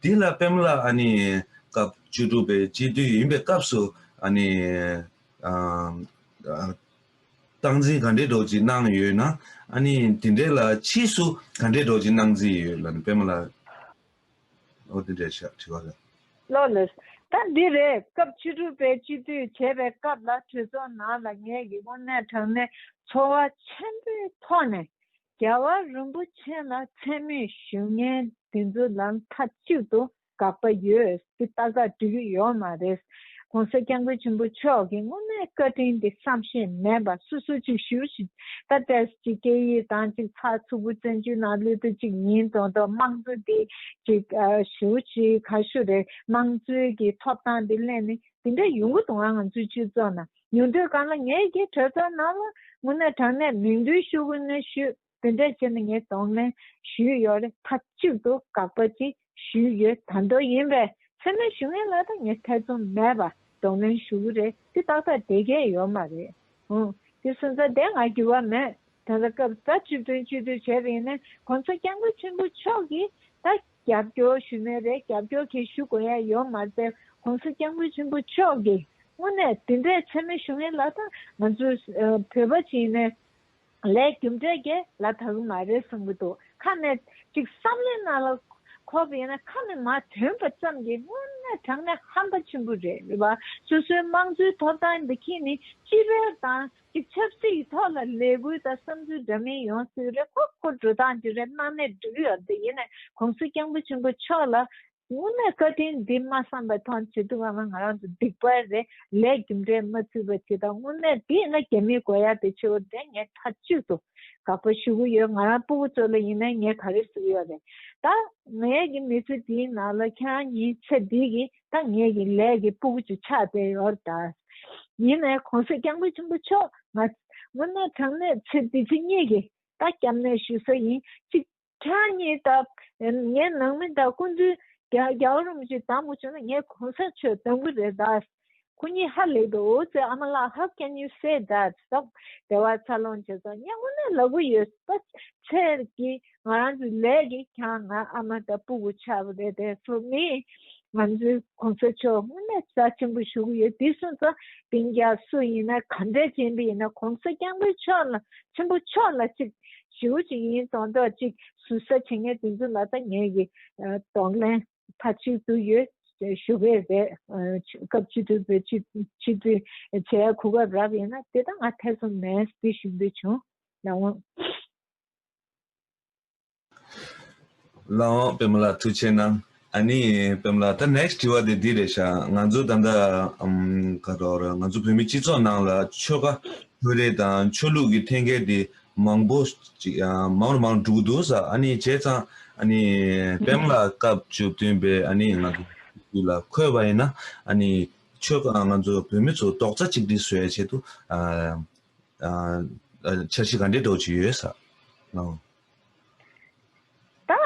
འདི་ལ་པེམ་ལ་སྐབས་བཅུ་དྲུག་པའི་དཔྱིད་དུས་ཡིན་པའི་སྐབས་སུ། སྟངས་འཛིན་ག་འདྲའི་སྒྲོག་ཅིག་གནང་ཡོད་ན། དེ་འདྲའི་ལ་ཕྱིས་སུ་ག་འདྲའི་སྒྲོག་ཅིག་གནང་རྩིས་ཡོད་ལ་ནི་པེམ་ལ། ཨོ་དེ་འདྲའི་ཤག་དྲི་བ་ལ། ལོ་ལོས། ད་འདི་རེད་སྐབས་བཅུ་དྲུག་པའི་དཔྱིད་དུས་བྱས་པའི་སྐབས་ལ་གྲོས་ཚོགས་ནང་ལ་ངེད་ཀྱི་དབུ་མའི་དྲང་གནས་འཚོ་བ་ཆེན་པོའི་ཐོག་ནས་རྒྱལ་བ་རིན་པོ་ཆེ་ལ་མཚན་མོའི་ཞུས་ངན་དེ་ཚོ་ལ་མཐའ་གཅིག་ཏུ་དགག་པ་ཡོད་ཀི་ལྟ་དགག་འབྲི་གི་ཡོད་མ་རེད། གོང་ས་སྐྱབས་མགོན་ཆེན་པོ་མཆོག་གི་སྔོན་མའི་བཀའ་དྲིན་དེ་བསམ་ཤེས་མེད་པ་སུ་སུ་གཅིག་ཞུས་ཤིག་ད་བཀྲས་ཀྱི་སྐད་ཡིག་དང་གཅིག་ཚགས་ཚུགས་པོ་བཙན་བྱོལ་ནང་ལུས་དུ་གཅིག་ཡིན་དོན་དུ་དམངས་གཙོ་འདི་གཅིག་ཞུས་ཤིག་ག་ཤུ་རེད་དམངས་གཙོའི་གི་ཐོབ་ཐང་དེ་གླེང་ནི་དེ་འདྲ་ཡོང་གི་འདུག་ང་ང་ཚོའི་སྤྱི་ཚོགས་ནང། ཉུང་དུས་གང་ལ་ངས་ཀྱིས་གྲོས་ཚོགས་ནང་ལ་དངོས་གནས་དྲང་གནས་མིང་འདོན་ཤུགས་དབུལ་གནོན་ཞུས་དེ་འདྲས་བྱས་ནས་ངས་དོགས་གནས་ཞུས་ཡོད་རེད་མཐའ་གཅིག་ཏུ་དགག་པ་ཅིག་ཞུས་ཡོད་དམ་དོགས་ཡིན་པས་མཚན་སྨད་ཞུ་ངེས་ལ་ད་ངས་ཐེ་ཚོམ་མེད་པར་དོགས་གནོན་ཞུ་གི་རེད་དེ་ཏག་ཏག་དེ་གས་ཡོད་མ་རེད་ཧུང་དེ་སུན་རྩ་དེ་ང་འགྱུར་བ་མེད་ད་ལྟ་སྐབས་རྩ་བཅུ་བདུན་བཅུ་དུས་བྱས་པ་ཡིན་ནས་གོང་ཚོགས་སྐྱབས་མགོན་ཆེན་པོ་མཆོག་གིས་ད། རྒྱབ་སྐྱོར་ཞུས་མེད་པས་རྒྱབ་སྐྱོར་གྱིས་ཞུ་དགོས་ཡ་ཡོད་མ་རྩེ་གོང་སི་སྐྱབས་མགོན་ཆེན་པོ་མཆོག་གིས་དངོས་གནས་དེ་འདྲའི་འཚེ་མེད་ཞུ་ངེས་ལ་དང་ང་ཚོས་བོད་པ་བྱིན་ནས་ལས་རྒྱུ་འབྲས་རྒྱལ་ལ་ད་གི་མ་རེད་གསུངས་གི་འདུག་ཁ་ནས་ཅིག་བསམ་ལེ་ན་ལ་ཁོག་གི་ཡིན་ན་ཁ་ནས་མ་ཐོན་པ་ཙམ་གྱིས་དངོས་གནས་དྲང་གནས་ཧམ་པ་ཆེན་པོ་རེད་བ་སོ་སོའི་དམངས་གཙོའི་ཐོབ་ཐང་འདི་ཁྱེད་ནི་སྤྱི་པའི་དང་གི་ཆབ་སྲིད་ཀྱི་ཐོག་ལ་ལས་འགུལ་དང་བསམ་ཚུལ་འདྲ་མིན་ཡོང་སྲིད་རེད་ཁོ་ཁོ་འགྲོ་སྟངས་འདི་རེད་གནའ་ནས་འབྲི་གུ་ཡང་འདི་ཡིན་ནས་གོང་སྲིད་སྐྱང་པོ་ཆེན་པོ་མཆོག་ལ་ངུ་ནས་བཀའ་དྲིན་འདི་མ་བསམ་པའི་ཐོག་ཇེ་སྡུག་བ་ང་ང་རང་དུ་སྡིག་པ་རེད་ལས་རྒྱུ་འབྲས་མ་ཚུད་པ་ཅིག་དང་དངོས་གནས་དེ་ཡིན་ན་རྒྱ་མིའི་དགོས་ཡ་དེ་ཆེ་བོ་དེ་ངས་མཐའ་གཅིག་ཏུ་དགག་པ་ཞུ་གི་ཡོད་ང་རང་སྤུ་བོ་ཙོ་ལ་ཡིན་ནས་ངས་ག་རེ་ཟུག་ཡོད་རེད་ད། ངའི་གི་མི་ཚེ་འདིའི་ནང་ལ་ཁྱེད་རང་གཉིས་ཚེ་འདི་གི་ད་ངེད་ཀྱི་ལས་ཀྱི་སྤུ་གུ་ཆུ་ཆགས་དེ་ཡོར་བལྟར། ཡིན་ནས་གོང་ས་སྐྱབས་མགོན་ཆེན་པོ་མཆོག་ང། སྔོན་གནས་དྲང་གནས་ཚེ་འདི་ཚེ་གཉིས་ཀྱི། ད་སྐྱབས་གནས་ཞུ་ས་ཡིན་གཅིག། ཁྱེད་གཉིས་ད་ངའི་ནང་མི་ད་སྐུ་མདུན། རྒྱ་བོད་རིན་པོ་ཆེ་དང་པོ་བྱོན་ན་ངས་གོང་ས་མཆོད་དང་པོ་རེད་ད། སྐུ་ཉིད་ཧ་ལས་པའི་འོ་ཙི་ཨ་མ་ལགས་ཧ་སྐད་ཉིད་གསལ་ད། བདེ་བ་འཚར་ལོངས་བྱེད་ས་གཉིས་སྔོན་གནས་ལ་གུ་ཡོད་ད། ཚེ་འདི། ང་རང་ཚོའི་ལས་ཀྱི་གྱང་ང་ཨ་མ་དང་སྤུ་གུ་ཆགས་པ་རེད་པས་སོ་མི་ང་ཚོའི་གོང་ས་མཆོག་དངོས་གནས་རྩ་ཆེན་པོ་ཞུ་གི་ཡོད་དེ་སོང་ཙང་དེང་རྒྱ་སུ་ཡིན་ན་ག་འདྲས་ཅན་པའི་ཡིན་ན་གོང་ས་སྐྱང་པོའི་མཆོག་ལ་ཆེན་པོ་མཆོག་ལ་ཅིག་ཞུ་ཅིག་ཡིན་གཏོང་གཏོག་ཅིག་ཟུར་ཟ་བྱེད་ངེས་དེ་ཚོ་ལ་ད་ངེད་ཀྱི་གདོང་ལེན་མཐའ་གཅིག་ཏུ་ཡོད་ཞུ་གི་རེད་སྐབས་སྤྱི་འཐུས་བོད་སྤྱི་སྤྱི་འཐུས་བྱེད་གོ་སྐབས་རབ་ཡིན་ན་དེ་ད་ང་ཐེ་ཚོམ་མེད་དེ་ཞུ་འདོད་བྱུང་ད་འོང། ལའང་བེམ་ལ་ཐུགས་ཆེ་གནང། ཨ་ནི་བེམ་ལ་ད next དྲི་བ་དེ་འདི་རེད་ཤག་ང་ཚོ་ད་ལྟ་ག་རོག་ར་ང་ཚོ་བོད་མི་སྤྱི་ཚོགས་ནང་ལ་ཆོལ་ཁ་ཆོས་རེ་དང་ཆོས་ལུགས་ཀྱི་འཐེན་འཁྱེར་དེ་མང་པོ་ཅིག་མང་རུ་མང་རུ་འགྲོ་གི་འདུག་ཟ་ཨ་ནི་བྱས་ཙང་ཨ་ནི་བེམ་ལ་སྐབས་བཅུ་བདུན་པའི་ཨ་ནི་ང་ཚོ་དུས་ལ་འཁོད་པ་ཡིན་ན་ཨ་ནི་ཆོལ་ཁ་ང་ཚོ་བོད་མི་ཚོ་རྡོག་རྩ་གཅིག་སྒྲིལ་བཟོས་བྱེད་དུ། འཆར་གཞི་ག་འདྲའི་སྒྲོག་བྱེད་ཡོད་ས་ནོ། ད་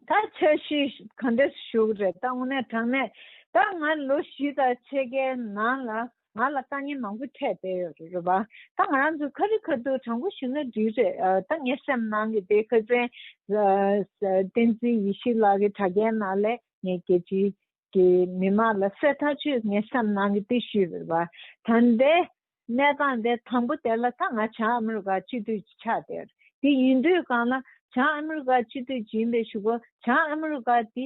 ད་འཆར་གཞི་ག་འདྲའི་ཞུགས་རེད་ད་དངོས་གནས་དྲང་གནས་ད་ང་ལོ་བཞི་དང་ཕྱེད་ཀའི་ནང་ལ་ང་ལ་དཀའ་ངལ་མང་པོ་འཕྲད་བསྡད་ཡོད་རེད་བ་ད་ང་རང་ཚོ་ཁ་རི་ཁ་ཐུག་དྲང་པོ་ཞུ་ན་འགྲིག་རེད་ད་ངའི་སེམས་ནང་གི་དེ་ཁ་ཟན་བསྟན་འཛིན་ཡེ་ཤེས་ལགས་ཀྱི་དྲ་རྒྱའི་ནང་ལས་ངའི་རྒྱལ་སྤྱིའི་གི་མི་དམངས་ལ་གསལ་ཐག་ཆོད་ངེས་སམ་གནང་གི་འདུག་ཞུས་པར། ད་ལྟའི་གནས་སྟངས་དེ་དང་པོ་དེ་ལ་ད་ང་བྱང་ཨ་མི་རི་ཀ་སྤྱི་འཐུས་ཀྱི་ཕྱག་དེར་དེ་ཡིན་དུས་གང་ལ་བྱང་ཨ་མི་རི་ཀ་སྤྱི་འཐུས་ཀྱི་ཡིན་པའི་ཞུ་སྒོ་བྱང་ཨ་མི་རི་ཀ་དེ་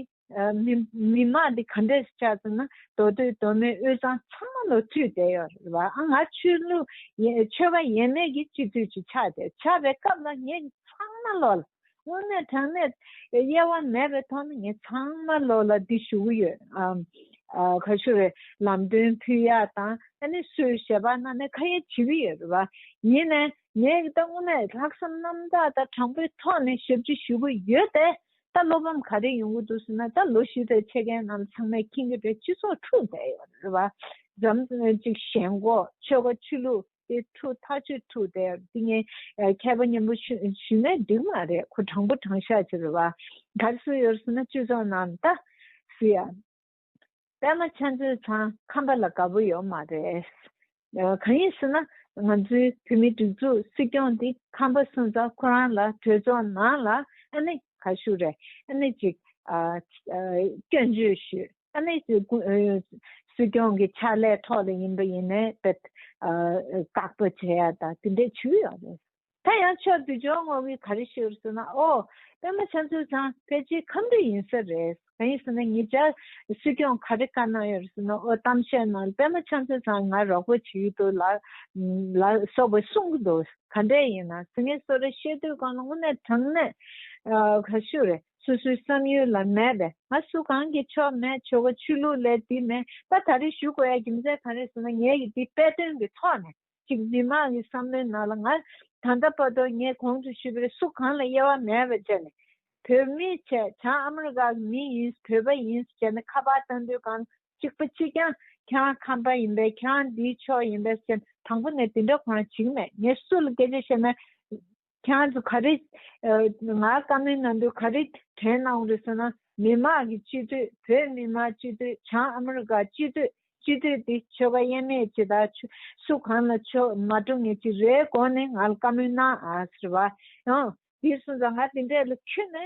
མི་དམངས་དེ་ག་འདྲས་སུ་ཆགས་ཚུལ་ན་མདོ་སྟོད་མདོ་སྨད་དབུས་གཙང་ཚང་མ་ལོ་དུས་དེ་ཡོད་རེད་བ་ཨ་ང་ཆོས་ལུགས་ཆོས་པ་ཡན་མེད་ཀྱི་སྤྱི་འཐུས་ཀྱི་ཕྱག་དེར་ཆགས་པའི་སྐབས་ལ་ངེད་ཚང་མ་ལོ་ལ་དངོས་གནས་དྲང་གནས་དབྱེ་བ་མེད་པའི་ཐོག་ནས་ངས་ཚང་མ་བློ་ལ་འདི་ཞུ་གི་ཡོད། ག་ཞུ་རེད་ལམ་སྟོན་ཕུལ་ཡ་དང་ཨ་ནི་སུ་ཞེས་པ་རྣམས་ནས་ཁ་ཡ་བྱེད་ཀྱི་ཡོད་རེད་བ། ཡིན་ནས་ངས་ད་དངོས་གནས་ལྷག་བསམ་རྣམ་དག་དང་དྲང་པོའི་ཐོག་ནས་ཞབས་ཕྱི་ཞུ་གི་ཡོད་དེ། ད་བློ་ཕམ་ག་རེ་ཡོང་གི་འདུག་ཟེར་ན་ད་ལོ་བཞི་བརྒྱ་ཕྱེད་ཀའི་ནང་ལ་ཚང་མས་མཁྱེན་གྱི་རེད་སྤྱི་ཚོགས་འཁྲུག་བསྡད་ཡོད་རེད་བ། འཇམ་གཅིག་ཞེན་གོ་ཆོལ་ཁ་ཆོས་ལུགས། དེ་ཁྲུ་ཐག་ཆོད་ཁྲུ་དེ་དེ་ངའི་མཁས་པ་མཉམ་པོ་ཞུ་ཞུ་ནས་འགྲིག་མ་རེད་ཁོ་དྲང་པོ་དྲང་ཤག་ཅིག་རེད་བ་གར་སུ་ཡོད་སུ་ན་གཅུས་ཚོགས་ནང་ད་སུ་ཡ་པད་མ་ཆ་མཚོའི་ཚང་ཁམས་པ་ལ་དགའ་པོ་ཡོད་མ་རེད་གང་ཡིན་སུ་ན་ང་ཚོའི་བོད་མི་སྒྲིག་འཛུགས་སྲིད་སྐྱོང་དེ་ཁམས་པ་སུ་ཚང་ཁོ་རང་ལ་གྲོས་ཚོགས་ནང་ལ་ཨ་ནི་ག་ཞུ་རེད་ཨ་ནི་ཅིག་སྐྱོན་བརྗོད་ཞུས། ས་གནས་སྲིད་སྐྱོང་གི་ཕྱག་ལས་ཐོག་ལ་ཡིན་པ་ཡིན་ནའི་དེ་བཀག་སྡོད་བྱེད་ཡ་དང་དེ་འདྲས་བྱུས་ཡོད་རེད། ད་ཡང་ཆོས་བསྡུ་སྦྱོར་ངོ་བོའི་ག་རེ་ཞུ་རུ་སོང་ན་ཨོ། པད་མ་ཆ་འཚོལ་ཚང་ཕལ་ཆེར་ཁམས་རིགས་ཡིན་ས་རེད། གང་ཡིན་ཟེར་ན་ངེད་ཅག་སྲིད་སྐྱོང་ག་རེ་བཀའ་གནང་ཡོད་རུ་སོང་ན་ཨོ་གཏམ་བཤད་གནང་པད་མ་ཆ་འཚོལ་ཚང་ང་རོགས་པོ་བྱེད་ཀྱི་འདུག་ལ་སོགས་པ་གསུང་གི་འདུག་ག་འདྲས་ཡིན་ན་ཟེར་ངས་གསོལ་ར་བཤད་དུས་གང་ལ་དངོས་གནས་དྲང་གནས་ཞུ་རེད། སོ་སོའི་བསམ་ཡུལ་ལ་མེད་པས་ང་སུ་གང་གིས་ཆོ་མེད་ཆོ་ག་ཆོས་ལུགས་ལས་འདི་མེད་ད་ད་རེས་ཞུ་དགོས་ཡ་རྒྱུ་མཚན་གང་རེད་ཟེར་ན་ངེད་ཀྱིས་འདི་དཔེ་སྟོན་གྱི་ཐོག་ནས་ཅིག་མི་མང་གི་བསམ་བློའི་ནང་ལ་ང་ད་ལྟ་བར་དུ་ངས་གོང་དུ་ཞུས་པའི་སུ་གང་ལ་དབྱེ་བ་མེད་པར་བྱས་ནས་བོད་མི་བྱས་བྱང་ཨ་མི་རི་ཀ་གི་མི་ཡིན་བོད་པ་ཡིན་བྱས་ནས་ཁ་པར་ལྟ་འདོད་གང་གཅིག་པ་གཅིག་ཀྱང་ཁྱེད་ཁམས་པ་ཡིན་པས་ཁྱེད་འདིའི་ཕྱོགས་ཡིན་པས་སེམས་དང་པོ་ནས་འདི་འདྲ་གང་ཞིག་མེད་ངས་སུ་ལ་སྐད་ཆ་བཤད་ན་ཁྱེད་ཚོ་ག་རེ། ང་བཀའ་མོལ་ནང་དུ་ག་རེ་དྲན་གནང་རེད་ཟེར་ན་མི་དམངས་ཀྱི་སྤྱི་འཐུས་བོད་མི་མང་སྤྱི་འཐུས་བྱང་ཨ་མི་རི་ཀ་སྤྱི་འཐུས་སྤྱི་འཐུས་དེ་ཆོལ་ཁ་དབྱེ་མེད་ཅིག་དང་སུ་གང་ལ་ཆོས་མ་སྒྲུབ་ངེས་ཅིག་རེད་དགོངས་ནས་ང་ལ་བཀའ་མོལ་གནང་ཟེར་བ། དེ་གསུངས་ཙང་ང་དེ་འདྲས་ལ་ཁྱོད་ནི་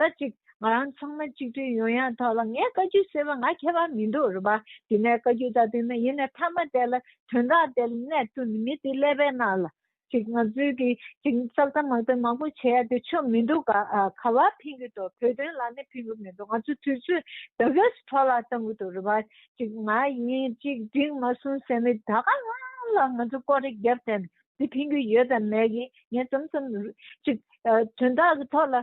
ད་ཅིག་ང་རང་ཚང་མ་གཅིག་སྒྲིལ་ཡོང་ཡ་ཐག་ལ་ངས་བཀའ་རྒྱུད་ཟེར་བ་ང་མཁས་པ་མི་འདུག་རེད་པ་དེ་ནས་བཀའ་རྒྱུད་ད་དེ་ན་ཡིན་ནས་ཐ་མ་དེ་ལ་དོན་དག་དེ་ལ་གནས་ཐུབ་ནི་མི་དེ་ཀླད་པའི་ནང་ལ་ཅིག་ང་ཚོའི་གི་ཅིག་ཙག་ཙག་མག་ཙག་མང་པོ་བྱེད་ཡ་དེ་ཆོ་མི་འདུག་ག་བ་ཕིན་གི་འདུག་བོད་དོན་ལ་ནི་ཕིན་གི་མི་འདུག་ང་ཚོ་དུས་ཚོད་ད་གེ་སྤྲོ་ལ་བཏང་གི་འདུག་རེད་པ་ཅིག་ང་ཡིན་གཅིག་སྒྲིལ་མ་སོང་ཟེར་ནི་ད་ག་ལ་ལ་ང་ཚོ་ཀོ་རེ་རྒྱབ་དེ་ནི་དེ་ཕིན་གི་ཡོད་དམ་མེད་གི་ངས་ཙམ་ཙམ་ཅིག་དོན་དག་གི་ཐོག་ལ་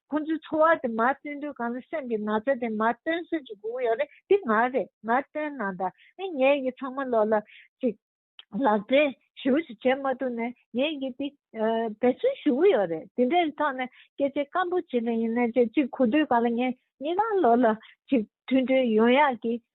ཁོ་ཚོའི་འཚོ་བ་དེ་མར་སྟོན་དུས་གང་ལ་སེམས་ཀྱི་ན་ཚ་དེ་མར་སྟོན་སྲོལ་གྱི་སྒུག་ཡོད་རེད་འདི་ང་རེད་མར་སྟོན་ནང་དང་ནི་ངས་ཡི་ཚང་མ་ལོག་ལ་ཅིག་ལག་འབྲེལ་ཞུ་ཞིག་བྱེད་མ་ཐུབ་ནས་ངས་ཡི་འདི་འབད་བརྩོན་ཞུ་གི་ཡོད་རེད་འདི་འདྲའི་ཐོག་ནས་སྐད་ཆ་སྐམ་པོ་བྱེད་ནས་ཡིན་ནའི་ཅིག་གོ་དུས་གང་ལ་ངས་ངེད་རང་ལོག་ལ་ཅིག་མཐུན་འབྲེལ་ཡོང་ཡག་གི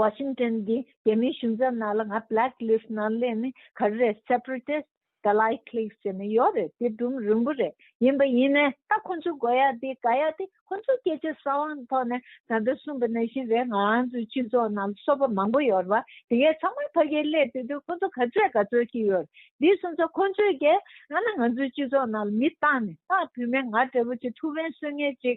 Washington གྱི་རྒྱལ་མིའི་གཞུང་ཚབ་ནང་ལ་ང Black List ནང་སླེབས་ནི་ག་རེ་རེད Separatist ག་ལ་ཡི Cliques ཟེར་ནི་ཡོད་རེད་དེ་སྒྲུང་རིང་པོ་རེད་ཡིན་པ་ཡིན་ནའི་ད་ཁོ་ཚོའི་དགོས་ཡག་དེ་ག་ཡག་དེ་ཁོ་ཚོའི་སྐད་ཆའི་ས་དབང་ཐོག་ནས་ད་ལྟ་གསུངས་པ་ནང་བཞིན་རེད་ང་ཚོའི་སྤྱི་ཚོགས་ནང་ལ་སོ་པ་མང་པོ་ཡོད་རེད་བ་དེ་གས་ཚང་མ་ཕ་གིའི་སླད་དེ་དུས་ཁོ་ཚོ་ག་ཚོད་ག་ཚོད་ཀྱི་ཡོད་རེད་འདི་གསུངས་ཚོ་ཁོ་ཚོས་གས་ང་ནི་ང་ཚོའི་སྤྱི་ཚོགས་ནང་ལ་མི་བཏང་ནས་བཏང་བུད་མེད་ང་འདྲ་བོ་ཅིག་ཐུགས་ཕན་གསོས་ངེས་ཅིག་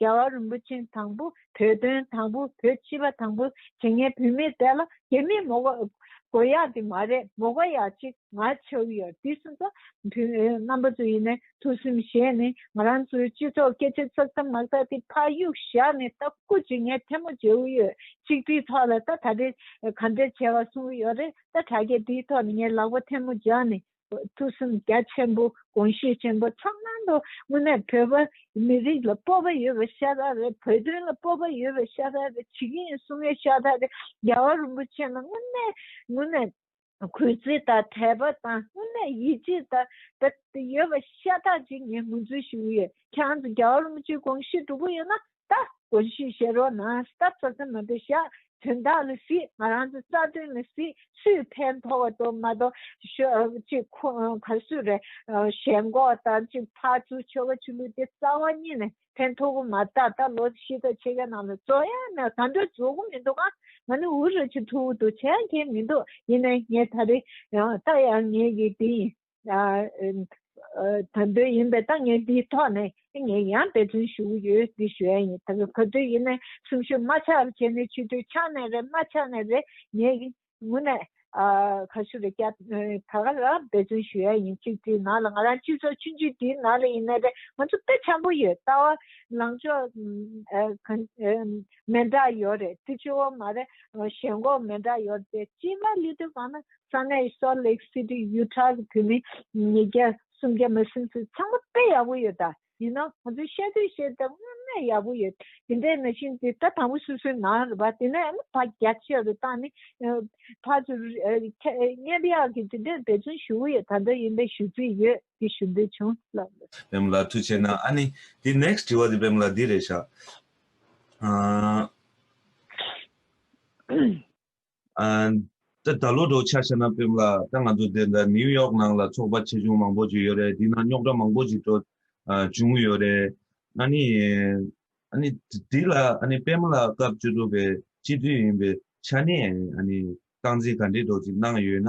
རྒྱལ་བ་རིན་པོ་ཆེན་དང་པོ་བོད་དོན་དང་པོ་བོད་སྤྱི་པ་དང་པོ་བྱེད་ངན་བུད་མེད་དེ་ལ་དེ་མིན་མོ་དགོ་ཡག་དེ་མ་རེད་མོ་དགོ་ཡག་ཅིག་ང་ཆོས་ཡོད་དེ་སུ་ཚོ་བུད་མེད་རྣམ་པ་ཚོ་ཡིན་ནས་ཐུགས་སེམས་བཞེས་ནས་ང་རང་ཚོའི་སྤྱི་ཚོགས་སྐད་ཆ་ཚག་ཚག་མག་དག་དེ་ཕ་གཡུག་བཞག་ནས་ལྟ་སྐུ་བྱེད་ངན་ཐལ་མོ་བྱེད་འུ་ཡོད་ཅིག་དེའི་ཐོག་ལ་ལྟ་ད་རེས་ག་འདྲ་བྱས་བ་གསུང་གི་ཡོད་རེད་ལྟ་དྲ་རྒྱ་དེའི་ཐོག་ལ་ངའི་ལག་པ་ཐལ་མོ་བརྒྱག་ནས་ཐུགས་བསམ་རྒྱ་ཆེན་པོ་དགོངས་ཤུགས་ཆེན་པོ་ཚང་ནང་དུ་དངོས་གནས་བོད་པ་མི་རིགས་ལ་སྤོབས་པ་ཡོད་པའི་ཤ་ཐག་རེད་བོད་དོན་ལ་སྤོབས་པ་ཡོད་པའི་ཤ་ཐག་རེད་བྱེད་ཀྱི་ཡིན་གསུང་བའི་ཤ་ཐག་རེད་རྒྱལ་བ་རིན་པོ་ཆེ་ལ་དངོས་གནས་དངོས་གནས་གུས་བརྩི་དང་དད་པ་དང་དངོས་གནས་ཡིད་ཆེས་དང་ཡོད་པའི་ཤ་ཐག་ཅིག་ངས་ངོས་འཛུན་ཞུ་གི་ཡོད་ཁྱེད་རང་ཚོ་རྒྱལ་བ་རིན་པོ་ཆེ་དགོངས་ཤུགས་འགྲོ་གི་ཡོད་ན་ལྟ། གོ་ཞིག་བཤད་རོགས་གནང་སྟབས་ས་ས་མ་འདུག་ཤག་དོན་དག་ལ་སྲིད་ང་རང་ཚོ་རྩ་དོན་ལ་སྲིད་སུས་ཕན་མཐོ་བ་དོ་མ་མཐོ་ཤོག་ཅིག་ཁོ་ག་སུ་རེད་ཞེན་ཁོག་དང་ཅིག་ཕ་ཚུ་ཆོལ་ཁ་ཆོས་ལུགས་དེ་རྩ་བ་གཉིས་ནས་ཕན་མཐོ་བོ་མ་ད་ད་ལོ་ཤི་ད་ཆེ་ག་ནང་ལ་བཙོ་ཡ་ན་ག་འདྲ་བཙོ་གོ་མི་འདུག་ང་ནི་འུ་རུ་ཆེ་མཐུ་བོ་འདུག་ཆེ་ཡང་མཁྱེན་མི་འདུག་ཡིན་ན་ངས་ད་རེ་ལྟ་ཡང་ངས་ཀྱི་དེ་ཡིན་དོན་དོན་ཡིན་པའི་ཐོག་ངས་འདིའི་ཐོག་ནས་ངས་ཡང་འབད་བརྩོན་ཞུ་གི་ཡོད་འདི་ཞུ་ཡ་ཡིན་ད་ག་ག་དུས་ཡིན་ནའི་གསུང་ཞུ་མ་ཆག་རེ་བྱས་ནའི་ཆུ་དུས་ཆག་ནའི་རེ་མ་ཆག་ནའི་རེ་ངས་ངུ་ནའི་ག་ཞུ་རེ་བསྐྱ་ད་ག་ལ་འབད་བརྩོན་ཞུ་ཡ་ཡིན་གཅིག་དེའི་ནང་ལ་ང་རང་སྤྱི་ཚོགས་ཆུང་ཆུང་དེའི་ནང་ལ་ཡིན་ནའི་རེ་ང་ཚོ་དཔེ་ཆ་པོ་ཡོད་ལྟ་བ་ལང་ཕྱོགས་མེ་འདྲ་ཡོད་རེད་ཏི་ཆུ་བོ་མ་རེད་ཞེན་གོག་མེ་འདྲ་ཡོད་རེད་ཅི་མ་ལི་དུ་བ་ན་ས་གནས Salt Lake City Utah གི་བོད་མི་ཉིས་བརྒྱ་སུམ་བརྒྱ་མ་ཟིན་ཚོད་ཚང་མ་དཔེ་ཡག་པོ་ཡོད་ད་ཡིན་ན་ང་ཚོས་བཤད་དུས་བཤད་ཐབས་དངོས་གནས་ཡག་པོ་ཡོད་དེ་འདྲའི་མ་ཤེས་ཏེ་ད་དང་པོ་སུ་སུའི་ནང་རེད་པ་དེ་ནས་ཕ་རྒྱ་ཆེ་རུ་བཏང་ནི་ཕ་ཚུ་རྙེད་པ་ཡག་གི་དེ་འདྲའི་འབད་བརྩོན་ཞུ་གི་ཡོད་ད་འདྲ་ཡིན་པའི་ཞུ་རྩིས་ཡོད་དེ་ཞུ་འདོད་བྱུང་ལབ། བེམ་ལ་ཐུགས་ཆེ་ན་ཨ་ནི། དེ next དྲི་བ་དེ་བེམ་ལ་འདི་རེད་བཞག། ད་ལོ་འགྲོ་འཆར་ཤ་ན་པེམ་ལ་ད་ང་ཚོ་དེ་འདྲ་ནིའུ་ཡོག་ནང་ལ་ཚོགས་པ་ཆེ་ཆུང་མང་པོ་ཞིག་ཡོད་རེད་དེ་ནང་རྙོག་དྲ་མང་པོ་ཞིག་འགྲོ་བྱུང་ཡོད་རེད། ཨཱ་ནི། ཨཱ་ནི། དེ་ལ་ཨཱ་ནི་པེམ་ལ་སྐབས་བཅུ་དྲུག་པའི་སྤྱི་འཐུས་ཡིན་པའི་ཆ་ནས་ཨཱ་ནི་སྟངས་འཛིན་ག་འདྲས་འགྲོ་ཅིག་གནང་ཡོད་ན་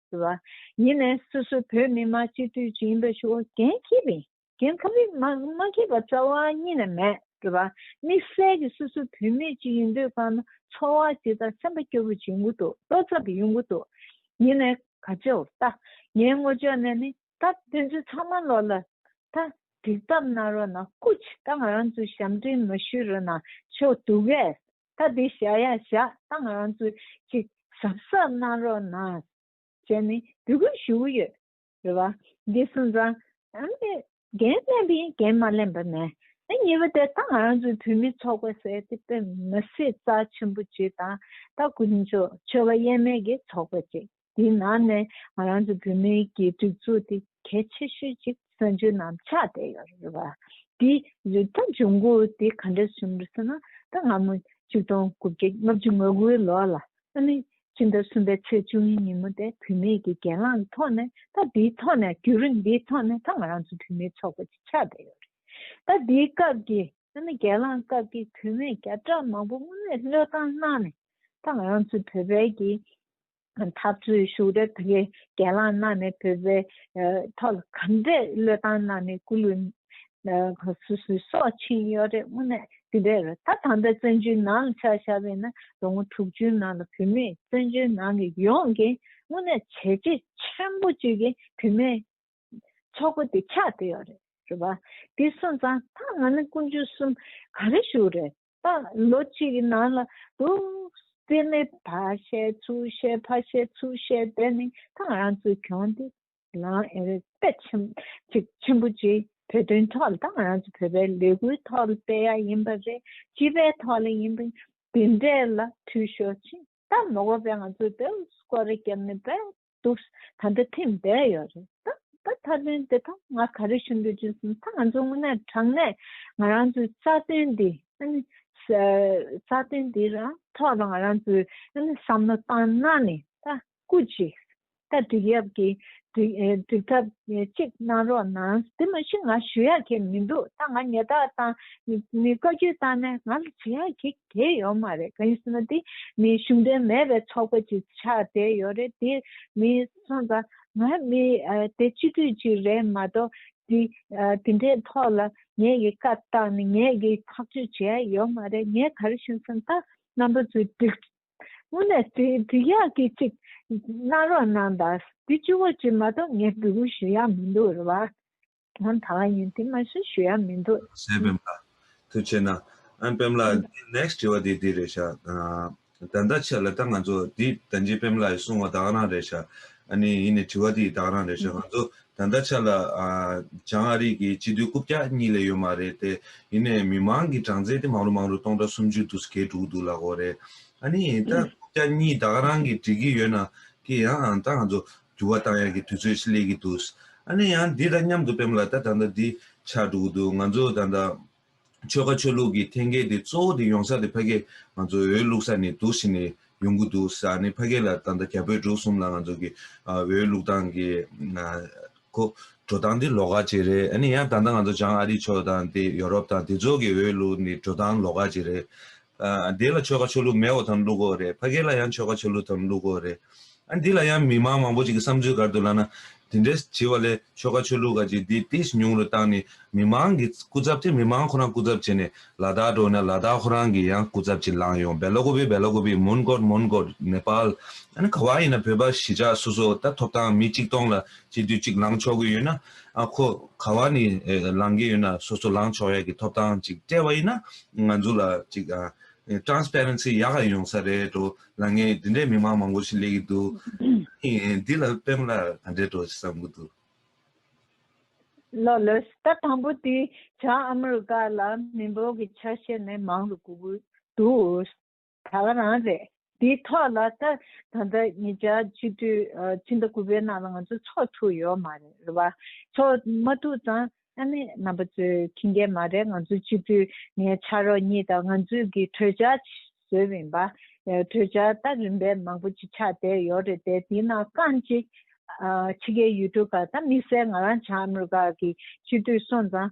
བ་ཡིན་ནས་སོ་སོ་བོད་མི་དམངས་སྤྱི་འཐུས་ཀྱི་ཡིན་པའི་ཆོ་གན་ཁེ་ཕིན་གན་ཁ་ཕིན་མ་ཁེ་པ་རྩ་བ་ཉིད་ནས་མེད། དམིགས་བསལ་གྱི་སོ་སོ་བོད་མི་གཅིག་ཡིན་དུས་ཁ་ན་འཚོ་བ་ཇི་ལྟར་སེམས་པ་སྐྱོ་བོ་བྱེད་འགོ་འདུག་ལྟོ་ཚ་བུ་ཡོང་གི་འདུག་ཡིན་ནས་ག་ཅོ་ད་ངའི་ངོ་ཅོག་ནས་ནི་ད་ཕན་ཚུན་ཚང་མ་ལོག་ལ་ད་འགྲིག་ཐབས་གནང་རོགས་གནང་ཀུ་ཅི་ད་ང་རང་ཚོའི་ཞབས་འདྲེན་མ་ཞུས་རོགས་གནང་ཆོག་དུག་གས་ད་འདི་བཞག་ཡ་བཞག་བཏང་རང་ཚོ་ཅིག་གཟབ་གཟབ་གནང་རོགས་གནང། ཅེས་ནས་འབོད་སྐུལ་ཞུ་གི་ཡོད་རེད་བ། འདི་སོང་ཙང། འགན་ལེན་པའི་འགན་མ་ལེན་པ་ནས། ཉེས་པ་དེ་ད་ང་རང་ཚོའི་བོད་མི་ཚོགས་པ་ཟེར་ཏེ་དཔེ་མི་སྲིད་རྩ་ཆེན་པོ་ཅིག་དང་ད་དཀོན་མཆོག་ཆོས་པ་དབྱེར་མེད་ཀྱི་ཚོགས་པ་ཅིག་དེའི་ནང་ནས་ང་རང་ཚོ་བོད་མི་གི་སྒྲིག་འཛུགས་དེ་གལ་ཆེ་ཤོས་ཅིག་གསར་འགྱུར་ནང་ཆགས་བསྡད་ཡོད་རེད་བ། དེ་ད་འབྱུང་ཁུངས་དེ་ག་འདྲ་བྱུང་རེད་ཟེར་ན་ད་སྔ་མོ་བཅུ་སྟོང་དགུ་བརྒྱ་ལྔ་བཅུ་ང་དགུའི་ལོར་ལ་ཨ་ནི་ཕྱི་ཟླ་གསུམ་པའི་ཚེས་བཅུ་གཉིས་ཉིན་མོ་དེ་བུད་མེད་ཀྱི་གྱེན་ལངས་ཀྱི་ཐོག་ནས་ད་དེའི་ཐོག་ནས་རྒྱུན་རིང་དེའི་ཐོག་ནས་ད་ང་རང་ཚོ་བུད་མེད་ཚོགས་པ་ཅིག་ཆགས་བསྡད་ཡོད་རེད། ད་དེའི་སྐབས་ཀྱི་ཨ་ནི་གྱེན་ལངས་སྐབས་ཀྱི་བུད་མེད་བརྒྱ་ཕྲག་མང་པོ་དངོས་གནས་བློས་བཏང་གནང་ནས་ད་ང་རང་ཚོ་བོད་པའི་གི་འཐབ་རྩོད་ཤུགས་རབ་དེ་གའི་གྱེན་ལངས་གནང་ནས་བོད་པའི་ཐོག་ལ་གང་འདྲའི་བློས་བཏང་གནང་ནས་སྐུ་ལུས་སྲོག་ཕྱིན་ཡོད་རེད་དངོས་གནས་དེ་འདྲའི་རེད་ད་དམ་པའི་བཙན་བྱོལ་ནང་ལ་ཆགས་བཞག་པས་ན་ལོ་ངོ་དྲུག་ཅུའི་ནང་ལ་བོད་མིས་བཙན་བྱོལ་ནང་གི་ཡོངས་ཀྱི་དངོས་གནས་བྱས་རྗེས་ཆེན་པོ་བཅུ་གྱི་བོད་མིའི་ཚོགས་པ་དེ་ཆགས་བསྡད་ཡོད་རེད་རེད་བ། དེ་སོང་ཙང་ད་ང་ནི་སྐུ་མཆོད་གསུམ་ག་རེ་ཞུ་རེད། ལོ་གཅིག་གི་ནང་ལ་དུ་བརྩི་མེད་ཕ་བཤད་ཚུར་བཤད་ཕ་བཤད་ཚུར་བཤད་དེ་ནི་ཐང་རང་ཚོའི་གྱོང་དེ་ལའང་ཨེ་རེད་དཔེ་ཆེན་པོ་གཅིག་བོད་དོན་ཐོག་ལ་ཐང་རང་ཚོ་བོད་པའི་ལས་འགུལ་ཐོག་ལ་སྤེལ་ཡ་ཡིན་པ་རེད་སྤྱི་པའི་ཐོག་ལ་ཡིན་པ་འདི་འདྲས་ལ་འཐུས་ཤོར་ཕྱིན་ད་མགོ་པས་ང་ཚོའི་བོད་སྐོར་རེ་རྒྱབ་ནས་བོད་འདུག་ད་ལྟ་ཐེངས་བརྒྱད་ཡོད་རེད་ད་ད་ད་དོན་དེ་དག་ང་ག་རེ་ཞུ་འདོད་ཅེས་ཟིན་ད་ང་ཚོ་དངོས་གནས་དྲང་གནས་ང་རང་ཚོའི་རྩ་དོན་འདི་ཨནི་རྩ་དོན་འདི་ར་ཐོག་ལ་ང་རང་ཚོས་ཨནི་བསམ་བློ་བཏང་ན་ནི་ད་སྐུ་ཅིག་ད་འགྲིག་ཡབ་ཀྱི་འགྲིག་ཐབས་ཅིག་གནང་རོགས་གནང་དེ་མ་གཞི་ང་ཞུ་ཡག་གི་མི་འདུག་ད་ང་ཉེ་རྟགས་དང་ནི་བཀའ་རྒྱུད་བཏང་ནས་ང་ལ་བྱེད་ཡག་གི་དེ་ཡོད་མ་རེད་ག་ཡིན་ཟེར་ན་དེ་མི་གཞུང་འབྲེལ་མེད་པའི་ཚོགས་པ་ཅིག་ཆགས་བསྡད་ཡོད་རེད་དེ་མི་སོང་ཙང་ང་མི་དེ་སྤྱི་འཐུས་ཅིག་རེད་མ་གཏོགས་དེ་དེ་འདྲའི་ཐོག་ལ་ངེད་ཀྱི་བཀའ་བཏང་ནས་ངེད་ཀྱི་ཐག་གཅོད་བྱས་ཡོད་མ་རེད་ངས་ག་རེ་ཞུ་ཟེར་ན་ད་རྣམ་པ་ཚོས་སྒྲིགས་དངོས་ནས་དེ་འདི་ཡག་གི་གཅིག་གནང་རོགས་གནང་དང་དེ་སྤྱི་བོ་གཅིག་མ་གཏོགས་ངས་འབུལ་ཞུ་ཡག་མི་འདུག་རེད་བ། ང་ད་ལ་ཡིན་དེ་མ་གསོན་ཞུ་ཡག་མི་འདུག། གཞན་ཕེམ་ལགས། ཐུགས་ཆེ་ན། ཨན་ཕེམ་ལགས་ཨན། འདི next དྲི་བ་འདི་འདི་རེད་ཤག། ད་ལྟ་ཆད་ལ་ད་ང་ཚོ་འདི་ད་འཇིགས་ཕེམ་ལགས་ཡི་གསུང་བ་དག་རང་རེད་ཤག། ཨ་ནི་ཡིན་ནི་དྲི་བ་འདི་ཡི་དག་རང་རེད་ཤག་ང་ཚོ་ད་ལྟ་ཆད་ལ། བྱང་ཨ་རིག་གི་སྤྱི་འཐུས་རྐུབ་བཀྱག་གཉིས་ལས་ཡོད་མ་རེད་དེ། ཡིན་ནས་མི་མང་གི་གྲངས་ཚད་དེ་མང་རུ་མང་རུ་སྟོང་ཕྲག་སུམ་ཅུ་དུ་སྐད་དྲུག་འདུག་ལ་གོ་རེད། ཨ་ནི་ད་རྐུབ་བཀྱག་གཉིས་དག་རང་གི་འགྲིག་གི་ཡོད་ན། ཀྱི་ཡང་ཨང་ད་ང་ཚོ་འགྱུར་བ་བཏང་ཡག་གི་དུས་ཚོད་ཤི་ལེ་གི་འདུག་ཨ་ནི་ཡང་འདི་དང་མཉམ་དུ་བེམ་ལ་ད་ད་ད་འདི་ཆགས་འགྲོ་གི་འདུག་ང་ཚོ་ད་ད་ཆོལ་ཁ་ཆོས་ལུགས་ཀྱི་ཐེན་ཀལ་དེ་གཙོ་བོ་དེ་ཡོང་ས་དེ་ཕ་སྐད་ང་ཚོ་འོས་བླུག་ས་ནས་འདུག་ཤི་ནས་ཡོང་གི་འདུག་ས་ཨ་ནི་ཕ་སྐད་ལ་ད་ད་རྒྱ་བོད་འབྲུག་གསུམ་ལ་ང་ཚོ་གི་འོས་བླུག་སྟངས་ཀྱི་འགོ་འགྲོ་སྟངས་དེ་ལོག་ཀ་ཅི་རེད་ཨ་ནི་ཡང་ད་ད་ང་ཚོ་བྱང་ཨ་རི་ཕྱོགས་དང་དེ་ཡོ་རོབ་དང་དེ་ཚོ་གི་འོས་བླུག་ནི་འགྲོ་སྟངས་ལོག་ཀ་ཅི་རེད་དེ་ལ་ཆོལ་ཁ་ཆོས་ལུགས་མེད་འོ་དམ་ལུགས་འོ་རེད་ཕ་སྐད་ལ་ཡང་ཆོལ་ཁ་ཆོས་ལུགས་དམ་ལུགས་འོ་རེད་ཨ་འདི་ལ་ཡང་མི་དམངས་མང་པོ་ཅིག་གི་བསམ་ཚུལ་གར་དུ་ལགས་ན་དེ་འདྲས་བྱིས་བ་ལས་ཆོལ་ཁ་ཆོས་ལུགས་ག་ཅིག་འདི་ཏིས་ཉུང་རུ་བཏང་ནས་མི་དམངས་གི་སྐུ་ཚབ་དེ་མི་དམངས་ཁོ་རང་སྐུ་ཚབ་བྱེད་ནས་ལ་དྭགས་འགྲོ་ན་ལ་དྭགས་ཁོ་རང་གི་ཡང་སྐུ་ཚབ་ཅིག་ལངས་ཡོང་བེལ་ལོ་གོ་བི་བེལ་ལོ་གོ་བི་མོན་གོར་མོན་གོར་ནེ་པཱལ་ཨ་ནི་ག་བ་ཡིན་ན་བོད་པ་གཞིས་ཆགས་སོ་སོ་ད་ཐོབ་ཐང་མི་གཅིག་སྟོང་ལ་གཅིག་དུས་གཅིག་ལངས་ཆོག་གི་ཡོད་ན། ཨ་ཁོ། ག་བ་ནི་ལང་གི་ཡོད་ན་སོ་སོ་ལང་ཆོག་ཡ་གི་ཐོབ་ཐང་ཅིག་སྤྲད་པ་ཡིན་ན་ང་ཚོ་ལ་ཅིག Transparency ཡག་ག་ཡོང་ས་རེད་འགྲོ་ལ་ངས་འདི་འདྲའི་མི་མང་མང་པོ་ཞིག་ལས་གི་འདུག་འདི་ལ་དཔེ་མ་ལ་ག་འདྲས་འགྲོ་ཞིག་བསམ་གི་འདུག། ལོ་ལོས་ད་དང་པོ་དེ་བྱ་ཨ་མི་རི་ཀ་ལ་མི་འབོར་གི་ཆ་ཤས་ནས་མང་རུ་གུ་གུ་འདུག། ད་ག་རང་རེད། དེའི་ཐོག་ལ་ད་ད་ལྟ་ཉིས་བརྒྱ་བཅུ་དུས་ཕྱི་ཟླ་དགུ་པའི་ནང་ལ་ང་ཚོ་ཚོགས་ཐུག་ཡོད་མ་རེད་བ། ཚོགས་མ་ཐུག་ཙང་ཨ་མེས་རྣམ་པ་ཚོས་ཁྱི་འགལ་མ་རེད་ང་ཚོ་སྤྱི་འཐུས་ངའི་ཕྱག་རོགས་གཉིས་དང་ང་ཚོས་གི་གྲོས་འཆར་བཟོས་མིན་པ། གྲོས་འཆར་ད་རིམ་པས་མང་པོ་ཅིག་ཆགས་བསྡད་ཡོད་རེད་དེ་དེའི་ནང་རྐང་གཅིག། ཕྱི་རྒྱལ་ཡུལ་གྲུ་ག་ད་དམིགས་བསལ་ང་རང་བྱང་ཨ་མི་རི་ཀ་གི་སྤྱི་འཐུས་སོང་ཙང་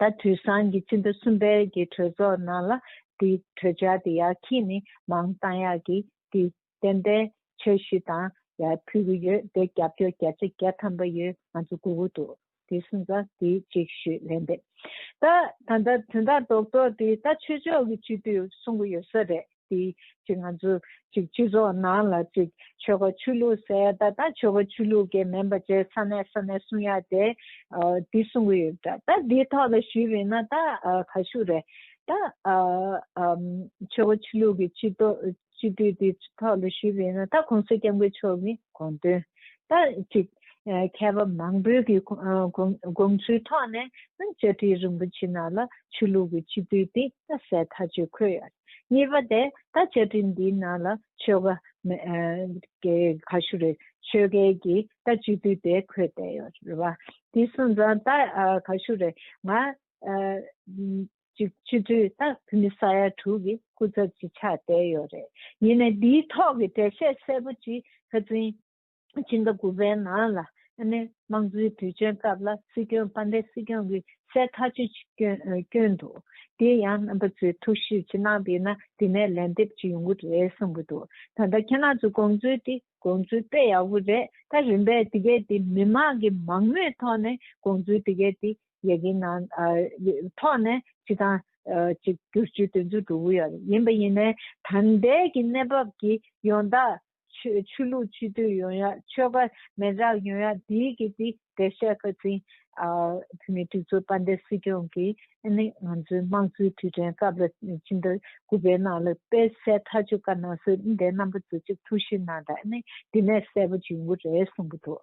ད་དུས་སང་གི་སྤྱི་ཟླ་གསུམ་པའི་གི་གྲོས་ཚོགས་ནང་ལ་དེ་གྲོས་འཆར་དེ་ཡག་གིས་ནི་མང་གཏང་ཡག་གི་དེ་བདེན་པའི་ཆོས་གཞི་དང་ཡ་ཕུལ་གི་ཡོད་དེ་རྒྱབ་སྐྱོར་རྒྱ་ཆེ་རྒྱ་ཐམ་པ་ཡོད་ང་ཚོ་དགོས་གི་འདུག་དེ་སུན་ཙང་དེ་གཅིག་ཞུས་ལན་འདེབས་ད་ད་ད་དོན་དག་རྡོག་རྡོག་དེ་ད་ཆོས་ཕྱོགས་གི་སྤྱི་འཐུས་གསུང་གི་ཡོད་ས་རེད། དེ་གཅིག་ང་ཚོ་གཅིག་སྤྱི་ཚོགས་ནང་ལ་གཅིག་ཆོལ་ཁ་ཆོས་ལུགས་ཟེར་ད་ལྟ་ཆོལ་ཁ་ཆོས་ལུགས་ཀྱི་མིན་པ་བཅས་ས་གནས་ས་གནས་གསུང་ཡ་དེ་དེ་གསུང་གི་ཡོད་ད་ད་དེ་ཐོག་ལ་ཞུས་པས་ན་ད་ཁ་ཤུ་རེད་ད་ཆོལ་ཁ་ཆོས་ལུགས་ཀྱི་སྤྱི་ཏོ་སྤྱི་འཐུས་དེ་ཐོག་ལ་ཞུས་པས་ན་ད་གོང་ས་སྐྱབས་མགོན་མཆོག་གི་དགོངས་དོན་ད་གཅིག་མཁས་པ་མང་པོའི་གི་དགོངས་ཚུལ་ཐོག་ནས་ད་བཅའ་ཁྲི་རིན་པོ་ཆེ་ནང་ལ་ཆོས་ལུགས་ཀྱི་སྤྱི་འཐུས་དེ་ད་གསལ་ཐག་ཆོད་འཁོད་ཡ་རེད། གཉིས་པ་དེ་ད་བཅའ་ཁྲིམས་འདིའི་ནང་ལ་ཆོལ་ཁ། ག་ཞུ་རེད་ཆོལ་ཁའི་གི་ད་སྤྱི་འཐུས་དེ་འཁོད་བསྡད་ཡོད་རེད་བ། དེ་སོང་ཙང་ད་ག་ཞུ་རེད་ང། སྤྱི་འཐུས་ད་བོད་མི་ས་ཡ་དྲུག་གི་སྐུ་ཚབ་ཅིག་ཆགས་བསྡད་ཡོད་རེད། ཡིན་ནའི་འདིའི་ཐོག་གི་འགྲེལ་བཤད་གསལ་པོ་ཅིག་ཧ་ཙིང། ཕྱི་ཟླ་དགུ་པའི་ནང་ལ་དམངས་གཙོའི་དུས་ཆེན་སྐབས་ལ་སྲིད་སྐྱོང་དཔལ་ལྡན་སྲིད་སྐྱོང་གི་གསལ་ཐག་ཆོད་ཅིག་བསྐྱོན་འདུག་དེ་ཡང་རྣམ་པ་ཚོས་ཐུགས་གཞིག་ཅི་གནང་པས་ན་དེ་ནས་ལན་འདེབས་ཅིག་ཡོང་གི་རེད་གསུངས་གི་འདུག་ད་ལྟ་ཁྱེད་རང་ཚོས་དགོངས་ཚུལ་དེ་དགོངས་ཚུལ་དཔེ་ཡག་པོ་རེད་ད་རིམ་པས་དེ་གའི་དེ་མི་མང་གི་མང་མོས་ཐོག་ནས་དགོངས་ཚུལ་དེ་གའི་དེ་ཡི་གི་ནང་ཐོག་ནས་ཅི་ཐང་ཅིག་བསྒྱུར་བཅོས་དོན་འཁྱོལ་འགྲོ་གི་ཡོད་རེད་ཡིན་པ་ཡིན་ནའི་ད་ལྟའི་གི་གནས་བབ་ཀྱི་ཡོངས་བདག་ཆོས་ལུགས་སྤྱི་འཐུས་ཡོང་ཡ་ཆོལ་ཁ་མེད་དྲག་ཡོང་ཡ་དེ་གི་དེ་བེད་སྤྱད་ཁ་ཚིན། བོད་མི་གྲི་ཚོ་དཔའ་འདེགས་སྲིད་སྐྱོང་གི་ནི་ང་ཚོའི་དམངས་གཙོའི་དུས་དྲན་སྐབས་ལ་ཕྱི་ཟླ་དགུ་པའི་ནང་ལ་དཔེ་གསལ་ཐག་ཆོད་དཀར་ནག་སོད་ཟླའི་རྣམ་པ་བཟོ་ཅིག་ཐུགས་ཞིབ་གནང་དང་ནི་དེ་ནས་གསལ་པོ་འབྱིན་དགོས་རེད་གསུང་གི་འདུག།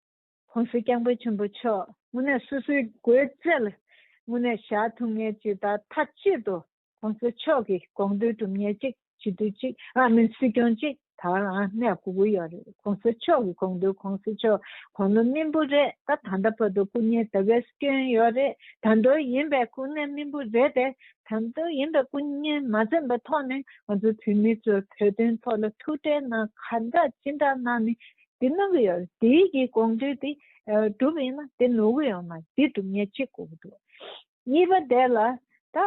ཧོན་སུ་རྐྱང་པའི་ཆུན་པོ་མཆོག། དངོས་གནས་སོ་སོའི་སྒོས་བཙལ། དངོས་གནས་ཞག་ཐུང་ངེ་ཅི་ལྟར་མཐའ་གཅིག་ཏུ། ཧོན་སུ་མཆོག་གི་དགོངས་འདུན་གྲུབ་ཉེར་གཅིག་བྱིས་དུས་གཅིག་ཨ་མིན་སྲིད་སྐྱོང་གཅིག་ད་རང་གནས་དགུ་དགུ་ཡོད་རེད་ཁོང་སྲིད་མཆོག་གི་དགོངས་འདུན་ཁོང་སྲིད་མཆོག་གོང་ནོར་སྨིན་པོ་རེད་ད་ད་ལྟ་བོད་དུ་སྐུ་ཉེ་དེ་བས་སྐྱོན་ཡོད་རེད་ད་མདོ་ཡིན་པའི་སྐུ་ཉེ་སྨིན་པོ་རེད་དེ་ད་མདོ་ཡིན་པའི་སྐུ་ཉེ་མ་འཛེམ་པའི་ཐོག་ནས་ང་ཚོ་བོད་མི་ཚོས་བོད་དོན་ཐོག་ལ་ཐུགས་ཁྲལ་གནང་ཁ་བརྡ་ཅི་འདྲ་གནང་ནས་འདི་གནང་གི་ཡོད་དེ་གི་དགོངས་འདུས་དེ་གྲུབ་ཡིན་ན་དེ་ནོར་གི་ཡོད་ན་དེ་གྲུབ་ངེས་གཅིག་དགོས་གི་འདུག་གཉིས་པ་དེ་ལ་ད་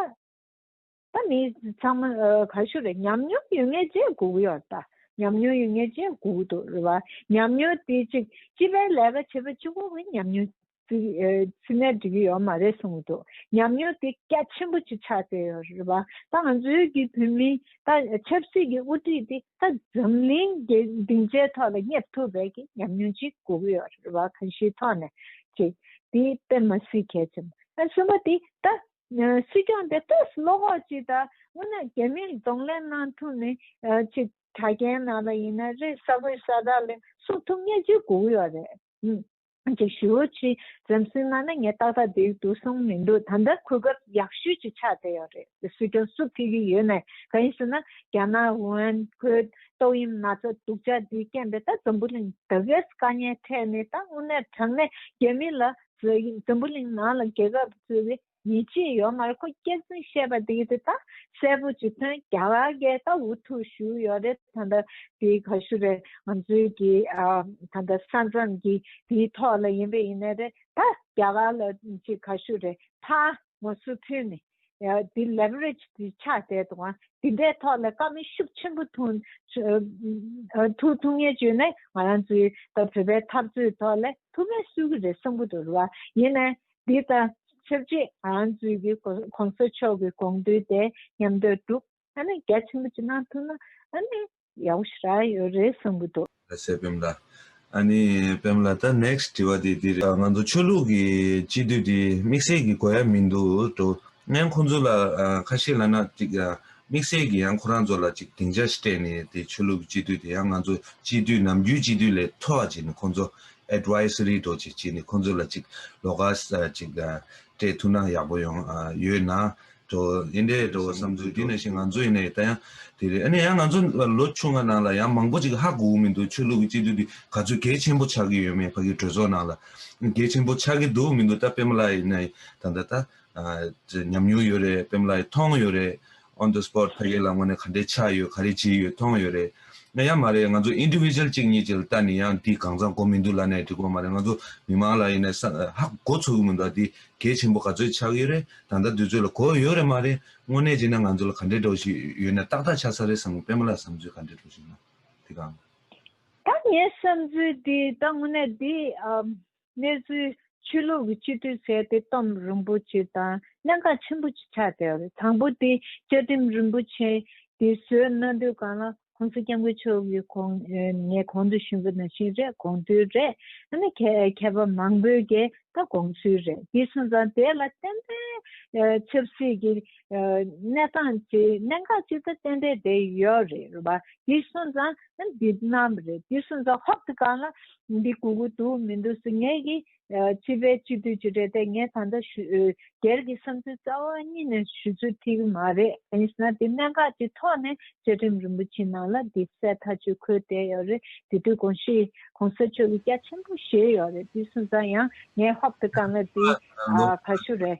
ད་མི་ཚང་མ་ག་ཤོད་རེད་ཉམས་མྱོང་ཡོད་ངེས་གཅིག་དགོས་གི་ཡོད་ད་ཉམས་མྱོང་ཡོད་ངེས་གཅིག་དགོས་གི་འདུག་རེད་བ་ཉམས་མྱོང་དེ་གཅིག་སྤྱི་པའི་ལས་ཀ་བྱེད་པ་གཅིག་པོ་གི་ཉམས་མྱོང་ཚིག་ནས་འབྲི་གི་ཡོད་མ་རེད་གསུངས་འདུག་ཉམས་མྱོང་དེ་སྐད་ཆེན་པོ་གཅིག་ཆགས་བསྡད་ཡོད་རེད་བ། ད་ང་ཚོའི་གི་བོད་མི་ད་ཆབ་སྲིད་ཀྱི་དབུ་ཁྲིད་དེ་ད་འཛམ་གླིང་གི་སྡིངས་ཆའི་ཐོག་ལ་སྙེབས་ཐུབ་པའི་གི་ཉམས་མྱོང་གཅིག་དགོས་གི་ཡོད་རེད་བ་གང་ཞིག་ཐོག་ནས་གི་དེ་དཔེ་མ་སྲིད་གལ་ཆེན་པོ། གསུམ་པ་དེ་ད་སྲིད་སྐྱོང་དེ་ཏོག་སུ་བློ་ཁོག་གཅིག་ད་སྔོན་ན་རྒྱ་མིར་གདོང་ལེན་གནང་ཐུབ་ནི་གཅིག་དྲ་རྒྱའི་ནང་ལ་ཡིན་ན་རེད་ས་ཁུལ་ས་དག་ལ་སུག་ཐུབ་ངེས་གཅིག་དགོས་གི་ཡོད་རེད། ཅིག་ཞུ། ཅི་ཙམ་སུན་སྣང་ན་ངས་ཏག་ཏག་འདེགས་འདུག་གསུངས་མི་འདུག་ད་ལྟ་གོ་སྐབས་ཡག་ཤོས་ཀྱི་ཆ་དེ་ཡང་རེད། སུས་ཀྱང་སུ་ཕི་གི་ཡོད་མེད་ག་ཡིན་ཟེར་ན་རྒྱ་ནག་བོན་བོད་ཏོག་དབྱིབས་ན་ཚ་དུག་ཅག་འདིའི་རྐྱེན་པས་ད་འཛམ་བུ་གླིང་ད་གེས་དཀའ་ཉེན་འཕྲད་ནས་ད་དངོས་གནས་དྲང་གནས་རྒྱ་མི་ལ་ཟེར་ཡིན་འཛམ་བུ་གླིང་ནང་ལ་རྒྱལ་ཁབ་ཟེར་བའི་ཡིད་ཆེས་ཡོད་མ་རེད་ཁོ་སྐད་གསུང་བཤད་པ་དེ་དེ་དག་གསལ་པོ་བྱེད་དོན་རྒྱ་གར་རྒྱལ་ད་འུ་ཐུག་ཞུ་ཡོད་རེད་ད་ད་དེ་ག་ཞུ་རེད་ང་ཚོའི་གི་ད་ད་ས་མཚམས་གི་དེའི་ཐོག་ལ་ཡིན་པས་ཡིན་ནི་རེད་ད་རྒྱ་གར་ལ་ཅི་ག་ཞུ་རེད་ཕ་ང་སུ་ཐུན་ནི་དེ leverage དེ་ཆགས་བསྡད་འདུག་ང་དེ་འདྲའི་ཐོག་ལ་དཀའ་མི་ཤུགས་ཆེན་པོ་ཐུག་ཐུག་ཐུག་ངེས་བྱུས་ནི་ང་རང་ཚོའི་ད་བོད་པའི་འཐབ་རྩོད་ཐོག་ལ་ཐུག་མེད་སུ་གི་རེད་བསམ་པོ་འདུག་རེད་བ་ཡིན་ནི་འདི་དང་ཆབས་ཅིག་ཨན་ཙུའུ་གི་གོང་ས་མཆོག་གི་དགོངས་དོན་དེ་ཉམས་དོད་འདུག་ཨ་ནི་རྒྱ་ཆེན་པོ་ཅིག་གནང་ཐུབ་ན་ཨ་ནི་ཡག་པོ་ཞིག་རག་ཡོད་རེད་བསམ་གྱི་འདུག། ལ་སེ་པེམ་ལ། ཨ་ནི་པེམ་ལ་ད next དྲི་བ་དེ་འདི་རེད། ང་ཚོ་ཆོས་ལུགས་ཀྱི་སྤྱི་མཐུས་དེ་དམིགས་བསལ་གྱི་གོ་ཡ་མི་འདུག་དོ་ནན་ཁོང་ཚོ་ལ་ཁ་ཤེས་ལ་ན་ཅིག་དམིགས་བསལ་གྱི་ཡང་ཁོ་རང་ཚོ་ལ་ཅིག་སྡིངས་ཆ་ཞིག་སྤྲད་ནས་དེ་ཆོས་ལུགས་ཀྱི་སྤྱི་མཐུས་དེ་ཡང་ང་ཚོ་སྤྱི་མཐུས་ནམ་རྒྱུན་སྤྱི་མཐུས་ལས་མཐོ་བ་ཅིག་ནི་ཁོང་ཚོ Advisory རྡོ་རྗེ་སྐྱིད་ནས་ཁོང་ཚོ་ལ་ཅིག་ལོ་ཀ་ཅིག་སྤྲད་ཐུབ་ན་ཡག་པོ་ཡོང་ཡོད་ན་འགྲོ། ཡིན་དེ་འགྲོ་བ་བསམ་ཚུལ་དེ་ནས་བཞིན་ང་ཚོ་ཡིན་ནའི་ད་ཡང་དེ་རེད་ཨ་ནི་ཡང་ང་ཚོ་ལོ་ཆུང་བ་ནང་ལ་ཡང་མང་པོ་ཅིག་ཧ་གོ་གི་མི་འདུག་ཆོས་ལུགས་ཀྱི་སྤྱི་འཐུས་འདི་ག་ཚོད་གལ་ཆེན་པོ་ཆགས་ཀྱི་ཡོད་མེད་ཕ་གི་གྲོས་ཚོགས་ནང་ལ་གལ་ཆེན་པོ་ཆགས་ཀྱི་འདུག་མི་འདུག་ད་པེ་མ་ལ་ཡི་ནའི་ད་ལྟ་ད་ཉམས་མྱོང་ཡོད་རེད་པེ་མ་ལ་ཡི་མཐོང་ཡོད་རེད། on the spot ཕ་གི་ལག་ངོ་ནས་ག་འདྲའི་ཆགས་ཡོད་ག་རེ་བྱས་ཡོད་མཐོང་ཡོད་རེད། ང་ཡང་མ་རེད་ང་ཚོ individual གཅིག་གཉིས་ཀྱི་ལྟ་ནི་ཡང་འདི་གང་ཙམ་གོ་མི་འདུག་ལ་ནས་འགྲིག་གོ་མ་རེད་ང་ཚོ་མི་མང་ལ་ཡིན་ནས་ཧ་གོ་ཚོ་གི་མི་འདུག་འདི་གལ་ཆེན་པོ་ག་ཚོད་ཆགས་ཡོད་རེད་ད་ལྟ་དུས་ཚོད་ལ་གོ་ཡོད་རེད་མ་རེད་དངོས་གནས་བྱས་ན་ང་ཚོ་ལ་ག་འདྲའི་འགྲོ་བཞིན་ཡོད་ནས་ཏག་ཏག་ཆགས་ས་རེད་བསམ་གི་དཔེ་མ་ལ་བསམ་ཚུལ་ག་འདྲའི་འགྲོ་བཞིན་ཡོད་འདི་གང། ད་ངའི་བསམ་ཚུལ་འདི་ད་དངོས་གནས་འདི་གནས་ཚུལ། ཆོས་ལུགས་ཀྱི་སྤྱི་འཐུས་གསལ་ཏེ་གཏམ་རིན་པོ་ཆེ་དང་གནད་འགག་ཆེན་པོ་གཅིག་ཆགས་ཏེ་རེད་དང་པོ་དེ་བཅའ་ཁྲིམས་རིན་པོ་ཆེ་དེ་བཟོས་གནང་དུས་གང་ལ་གོང་ས་སྐྱབས་མགོན་མཆོག་གིས་གོང་ངས་གོང་དུ་ཞུས་པ་ནང་བཞིན་རེད་དགོངས་ཚུལ་རེད་ཨ་ནི་མཁས་པ་མང་པོས་ཀྱི་ད་དགོངས་ཚུལ་རེད་དེ་སོང་ཙང་དེ་ལ་གཏན་འབེབས་ཆབ་སྲིད་ཀྱི་གནས་སྟངས་ཀྱི་གནད་འགག་གཅིག་ད་གཏན་འབེབས་དེ་ཡོད་རེད་བ་དེ་སོང་ཙང་འདི་རྣམས་རེད་དེ་སོང་ཙང་ཧོབ་དེ་གང་ལ་ཡིན་འདི་གུ་གུ་འདུག་མི་འདུག་ཟེར་ངེས་ཀྱི། སྤྱི་པའི་སྤྱི་འཐུས་ཀྱི་རེད་དེ་ངས་ད་ལྟ་ཞུ། སྒེར་གྱི་བསམ་ཚུལ་རྩ་བ་ཉིད་ནས་ཞུ་ཚུལ་ཐིག་གི་མ་རེད་དེ་ཡིན་ན་དེ་གནད་འགག་ཅིག་ཐོག་ནས་བཅའ་ཁྲིམས་རིན་པོ་ཆེའི་ནང་ལ་དེ་གསལ་ཐག་ཆོད་འཁོད་བསྡད་ཡོད་རེད་དེ་དུས་གོང་ཞི། གོང་ས་མཆོག་གི་སྐྱག་ཆེན་པོ་བཞེས་ཡོད་རེད་དུས་སུ་ཟ་ཡང་ངའི་ཧོབ་ཏུ་གང་ལ་དེ། ག་ཞུ་རེད།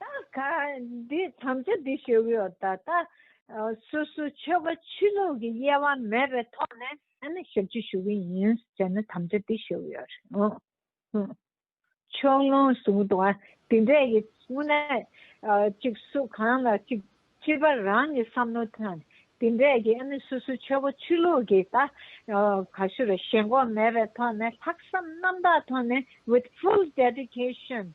ད་ག་འདི་དམ་བཅའ་འདི་ཞུ་གི་ཡོད་ད་ལྟ། སོ་སོའི་ཆོལ་ཁ་ཆོས་ལུགས་ཀྱི་དབྱེ་བ་མེད་པའི་ཐོག་ནས་ཨ་ནི་ཞབས་ཕྱི་ཞུ་གི་ཡིན་ཟེར་ན་དམ་བཅའ་འདི་ཞུ་གི་ཡོད་རེད་ཨང། ཕྱོགས་ལྷུང་བཟུང་དང་དེ་འདྲས་ཀྱི་དངོས་གནས་གཅིག་སུ་གང་ལ་གཅིག་སྤྱི་པ་རང་གི་བསམ་བློ་དང་དེ་འདྲས་ཀྱི་ཨ་ནི་སོ་སོའི་ཆོལ་ཁ་ཆོས་ལུགས་ཀྱི་ད་ག་ཞུ་རེད་ཞེན་ཁོག་མེད་པའི་ཐོག་ནས་ལྷག་བསམ་རྣམ་དག་ཐོག་ནས with full dedication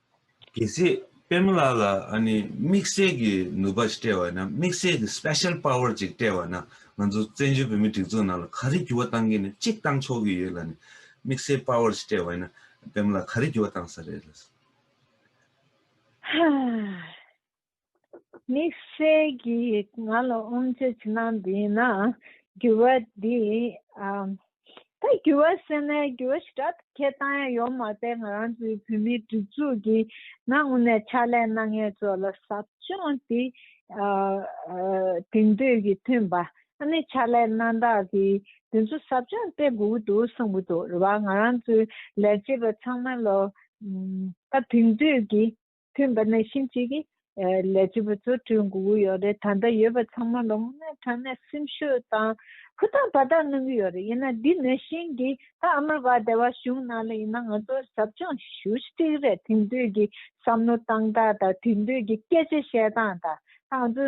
གལ་སྲིད་དཔལ་མོ་ལགས་ལ་དམིགས་བསལ་གྱི་ནུས་པ་ཞིག་སྤྲད་པ་ཡིན་ན་དམིགས་བསལ་གྱི Special Power ཅིག་སྤྲད་པ་ན་ང་ཚོ་བཙན་བྱོལ་བོད་མིའི་སྒྲིག་འཛུགས་ནང་ལ་ག་རེ་འགྱུར་བ་གཏང་གི་ནི་གཅིག་གཏང་ཆོག་གི་ཡོད་ལ་ནི་དམིགས་བསལ Power ཞིག་སྤྲད་པ་ཡིན་ན་དཔལ་མོ་ལགས་ག་རེ་འགྱུར་བ་གཏང་ས་རེད། ཧཧཧྀས་དམིགས་བསལ་གྱིས་ང་ལ་ཨོམ་ཆོས་ཕྱི་ནང་འདི་ཡིན་ན་འགྱུར་བ་འདི་ད་འགྱུར་བ་ཟེར་ནས་འགྱུར་བ་ཞིག་དྲག་ཏུ་ཁྱེར་སྟངས་ཡང་ཡོད་མ་རེད་ང་རང་ཚོའི་བོད་མིའི་སྒྲིག་འཛུགས་ཀྱི་ནང་དངོས་ནས་ཕྱག་ལས་གནང་མཁན་ཚོ་ལ་ཟབ་སྦྱོང་དེ་དེང་དུས་ཀྱི་ཐོན་པ་ཨ་ནེ་ཕྱག་ལས་གནང་བདག་གིས་དེ་ཚོ་ཟབ་སྦྱོང་སྟེར་དགོས་ཀྱི་འདུག་གསུངས་ཀྱི་འདུག་རེད་བ་ང་རང་ཚོའི་ལས་བྱེད་པ་ཚང་མ་ལ་ད་དེང་དུས་ཀྱི། ཐེངས་འདི་ནས་ཤིང་གཅིག་གིས་ལས་བྱེད་པ་ཚོ་བསྐྲུན་དགོས་ཀྱི་ཡོད་རེད་ད་ལྟ་ཡོད་པ་ཚང་མ་ལོ་ངོ་ལྔའི་གྲངས་ནས་སེམས་ཤུགས་དང་ཧུར་ཐག་བར་ཐག་གནང་གི་ཡོད་རེད་ཡིན་ན་འདི་ནས་ཤིང་གིས་ད་ཨ་མེ་རི་ཀ་སྡེ་བ་གཞུང་ནང་ལ་ཡིན་ན་ང་ཚོ་ཟབ་སྦྱོང་ཞུ་གཅིག་རེད་དེང་དུས་ཀྱི་བསམ་བློ་བཏང་སྟངས་དང་དེང་དུས་ཀྱི་སྐད་ཆ་བཤད་སྟངས་དང་ད་ང་ཚོ་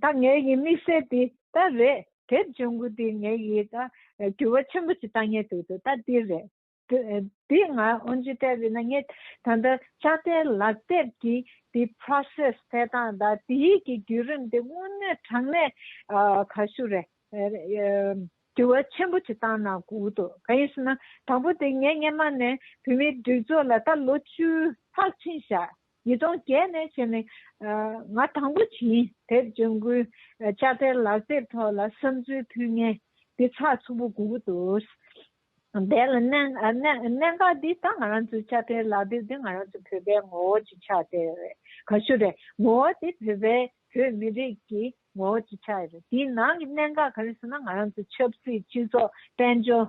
ད་ངའི་ཡིད་དམིགས་བསལ་འདི་ད་རེད་དེབ་སྦྱོང་གི་འདི་ངའི་ཡིད་ད་འགྱུར་བ་ཆེན་པོ་ཞིག་བཏང་ཉེ་འདུག་ད་འདི་རེད། དེ་ང་ཨོན་ཅི་ལྟ་བུས་ན་ངས་ད་ལྟ་ལྕགས་རྟའི་ལག་དེབ་ཀྱི་དེ process འཕེལ་སྟངས་དང་དེའི་གི་བརྒྱུད་རིམ་དེ་དངོས་གནས་དྲང་གནས་ག་ཞུ་རེད། དྲི་བ་ཆེན་པོ་དེ་བཏང་ན་གུག་འདུག་ག་ཡིན་ཟེར་ན་དང་པོ་དེ་ངས་སྔན་མ་ནས་བོད་མིའི་སྒྲིག་འཛུགས་ལ་ད་ལོ་བཅུ་ལྷག་ཕྱིན་བཞག་ཉིས་སྟོང་བརྒྱད་ནས་བྱས་ནས་ང་དང་པོ་བྱིན་དེབ་ལྗོན་ཀུན་ལྕགས་རྟའི་ལག་དེབ་ཐོག་ལ་བསམ་ཚུལ་ཕུལ་མཁན་དེ་ཚགས་ཚུད་པོ་གུག་འདུག་འདས་ལ་གནད་འགག་འདི་ད་ང་རང་ཚོའི་ཆ་འཕེལ་ལག་དེབ་འདི་ང་རང་ཚོ་བོད་པའི་ངོ་བོ་ཅིག་ཆགས་དེ་རེད་ག་ཤུ་རེད་ངོ་བོ་དེ་བོད་པའི་བོད་མི་རིགས་ཀྱི་ངོ་བོ་ཅིག་ཆགས་རེད་དེའི་ནང་གི་གནད་འགག་ག་རེ་ཟེར་ན་ང་རང་ཚོའི་ཆབ་སྲིད་སྤྱི་ཚོགས་དཔལ་འབྱོར་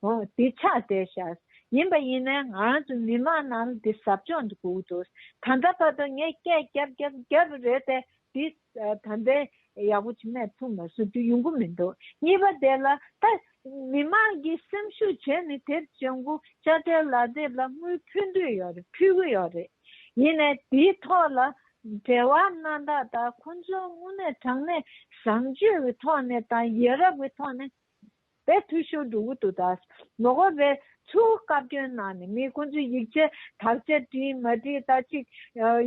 ཧོ་དེ་ཆགས་དེ་ཤར་ཡིན་པ་ཡིན་ནའི་ང་རང་ཚོའི་མི་མང་རྣམས་དེ་ཟབ་སྦྱོང་དུ་བསྒུག་འདུག་ད་ལྟ་བར་དུ་ངས་སྐད་བརྒྱབ་བརྒྱབ་བརྒྱབ་རེད་དེ་དེ། ད་ལྟའི་ཡག་པོ་བྱེད་མས་ཐུག་ན་སུ་དུས་ཡོང་གི་མི་འདུག་གཉིས་པ་དེ་ལ་ད་མི་མང་གི་སེམས་ཤུགས་བྱས་ནས་དེར་བྱེད་འགོ་དཔྱ་ཁྲལ་ལག་དེབ་ལ་དངུལ་ཕུལ་འདོད་ཡོད་རེད་ཕུལ་གི་ཡོད་རེད་ཡིན་ནས་དེའི་ཐོག་ལ་བྲེལ་བ་སྣ་དག་དང་ཁོང་ཚོའི་དངོས་གནས་དྲང་གནས་བཟང་སྤྱོད་ཀྱི་ཐོག་ནས་དང་ཡ་རབས་ཀྱི་ཐོག་ནས། པའི་འཐུས་ཤོར་འགྲོ་འུ་ཐུག་ད། མི་དགོས་པའི་ཚུལ་བཀའ་བཀྱོན་གནང་ནས་མི་ཁོང་ཚོས་ཡིག་ཆ་དག་ཆ་བྲིས་མ་བྲིས་ད་ཅིག་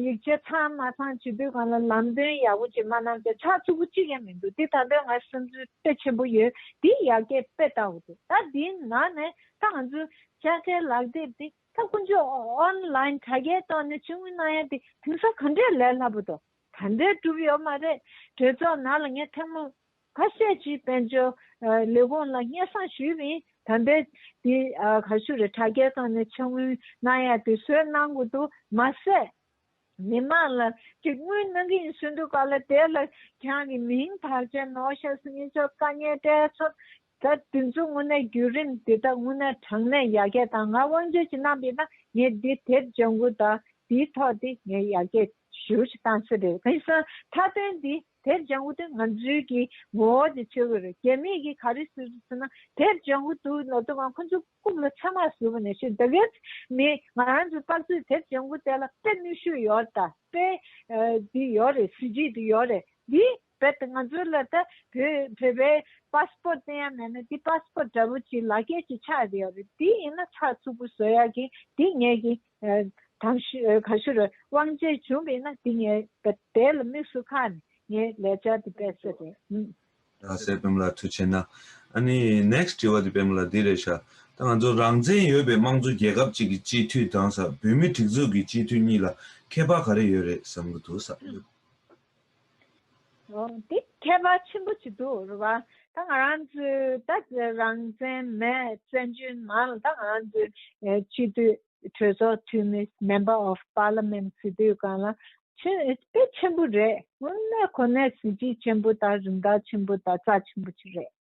ཡིག་ཆ་ཚང་མ་ཚང་བྱེད་དུས་གང་ལ་ལམ་སྟོན་ཡག་པོ་བྱེད་མ་གནང་ཚེ་ཆགས་ཚུགས་པོ་གཅིག་ཡང་མི་འདུག་འདི་ད་དོན་ང་སེམས་ཚོད་དཔེ་ཆེན་པོ་ཡོད་དེ་ཡག་གེ་དཔེ་ལྟ་འུ་ཐུག་ད་འདིའི་ནང་ནས་ད་ང་ཚོས་ཆ་ཁའི་ལག་དེབ་དེ་ད་ཁོང་ཚོས online དྲ་རྒྱའི་ཐོག་ནས་ཕྱི་དངུལ་གནང་ཡ་དེ་དེང་སང་ག་འདྲའི་ལས་སླ་པོ་དང་ག་འདྲའི་གྲུབ་ཡོད་མ་རེད་གྲོས་ཚོགས་ནང་ལ་ངས་ཐེངས་མང་ཁ་ཤས་ཀྱིས་དཔལ་འབྱོར་ལས་ཁུངས་ལ་སྙན་གསང་ཞུས་པའི་དམ་པས་དེ་ག་ཞུ་རེ་དྲ་རྒྱའི་སྟེང་ནས་ཕྱི་དངུལ་གནང་ཡ་དེ་བཟོས་གནང་གི་འདུག་མ་ཟད་མི་དམངས་ལ་གཅིག་དངུལ་གནང་གི་ཡིན་ཟེར་འདུག་ག་ལ་དེ་ལ་གྱང་གི་མིང་དག་ཅན་ནོ་ཤཱ་སི་ཉི་མཆོག་བཀའ་ཉན་བཀྲས་མཚོར་ད་དེ་ཚོ་དངོས་གནས་བརྒྱུད་རིམ་དེ་དག་དངོས་གནས་དྲང་གནས་ཡར་རྒྱས་དང་ང་དབང་འབྱོར་གྱི་རྣམ་པས་ན་ངས་འདི་དེབ་ལྗང་གུ་དག་དེའི་ཐོག་དེ་ངས་ཡར་རྒྱས་ཞུ་ཞུ་བཏང་སྲིད་རེད་དེང་སང་མཐའ་དོན་འདི་དེར་ལྗང་བུ་དེ་ང་ཚོའི་གི་ངོ་བོ་དེ་བྱེད་དགོས་རེད་རྒྱ་མིས་གི་ག་རེ་ཟེར་དུ་ཟེར་ན་དེར་ལྗང་བུ་འདུག་ལབ་དུ་མ་ཁོ་ཚོ་རྐུབ་ལ་ཚ་མ་ཟུག་ནས་ཤི་འདི་གས་མི་ང་ཚོ་དཔག་ཚོད་དེར་ལྗང་བུ་དེ་ལ་དཔེ་ནུས་ཤུ་ཡོད་ད་དཔེ་དེ་ཡོད་རེད་གཟི་བརྗིད་དེ་ཡོད་རེད་དེ་བས་ད་ང་ཚོ་ལ་ད་བོད་པའི passport བསྟན་ཡ་མེད་ན་དེ passport འདྲ་བོ་ཅིག་ལག་ཁྱེར་ཅིག་ཆགས་དེ་ཡོད་རེད་དེ་ཡིན་ན་ཚགས་ཚུགས་པོ་བཟོ་ཡ་གི་དེ་ངས་གི་གང་ཕྱིར་དབང་རྗེས་འབྱུང་མིན་ན་འདི་ངའི་དེ་ལ་དམིགས་སུ་ཁ་ནས་ངའི་ལས་བྱ་འདི་པས་སེ་རེད་ཨུ། ད་གཟས་བེམ་ལ་ཐུ་ཆེ་ན། ཨ་ནི next དྲི་བ་འདི་བེམ་ལ་འདི་རེད་ཤ་ད་ང་ཚོ་རང་བཙན་ཡོད་པའི་དམངས་གཙོ་རྒྱལ་ཁབ་ཅིག་གི་སྤྱི་འཐུས་དང་ས་བོད་མི་སྒྲིག་འཛུགས་ཀྱི་སྤྱི་འཐུས་གཉིས་ལ་ཁྱད་པར་ག་རེ་ཡོད་རེད་བསམ་གི་འདུག་ས་བོད། འདི་ཁྱད་པར་ཆེན་པོ་བྱེད་དུ་རུ་བ། ད་ང་རང་ཚོས་ད་རང་བཙན་མའི་བཙན་བྱོལ་ནང་ད་ང་རང་ཚོའི་སྤྱི་འཐུས་གྲོས་ཚོགས་འཐུས་མི Member of Parliament ཟེར་དུས་གང་ལ་ཆེན་དཔེ་ཆེན་པོ་རེད་དངོས་གནས་ཁོ་ནའི་གཟི་བརྗིད་ཆེན་པོ་དང་རིན་ཐང་ཆེན་པོ་དང་རྩ་ཆེན་པོ་ཆེ་རེད།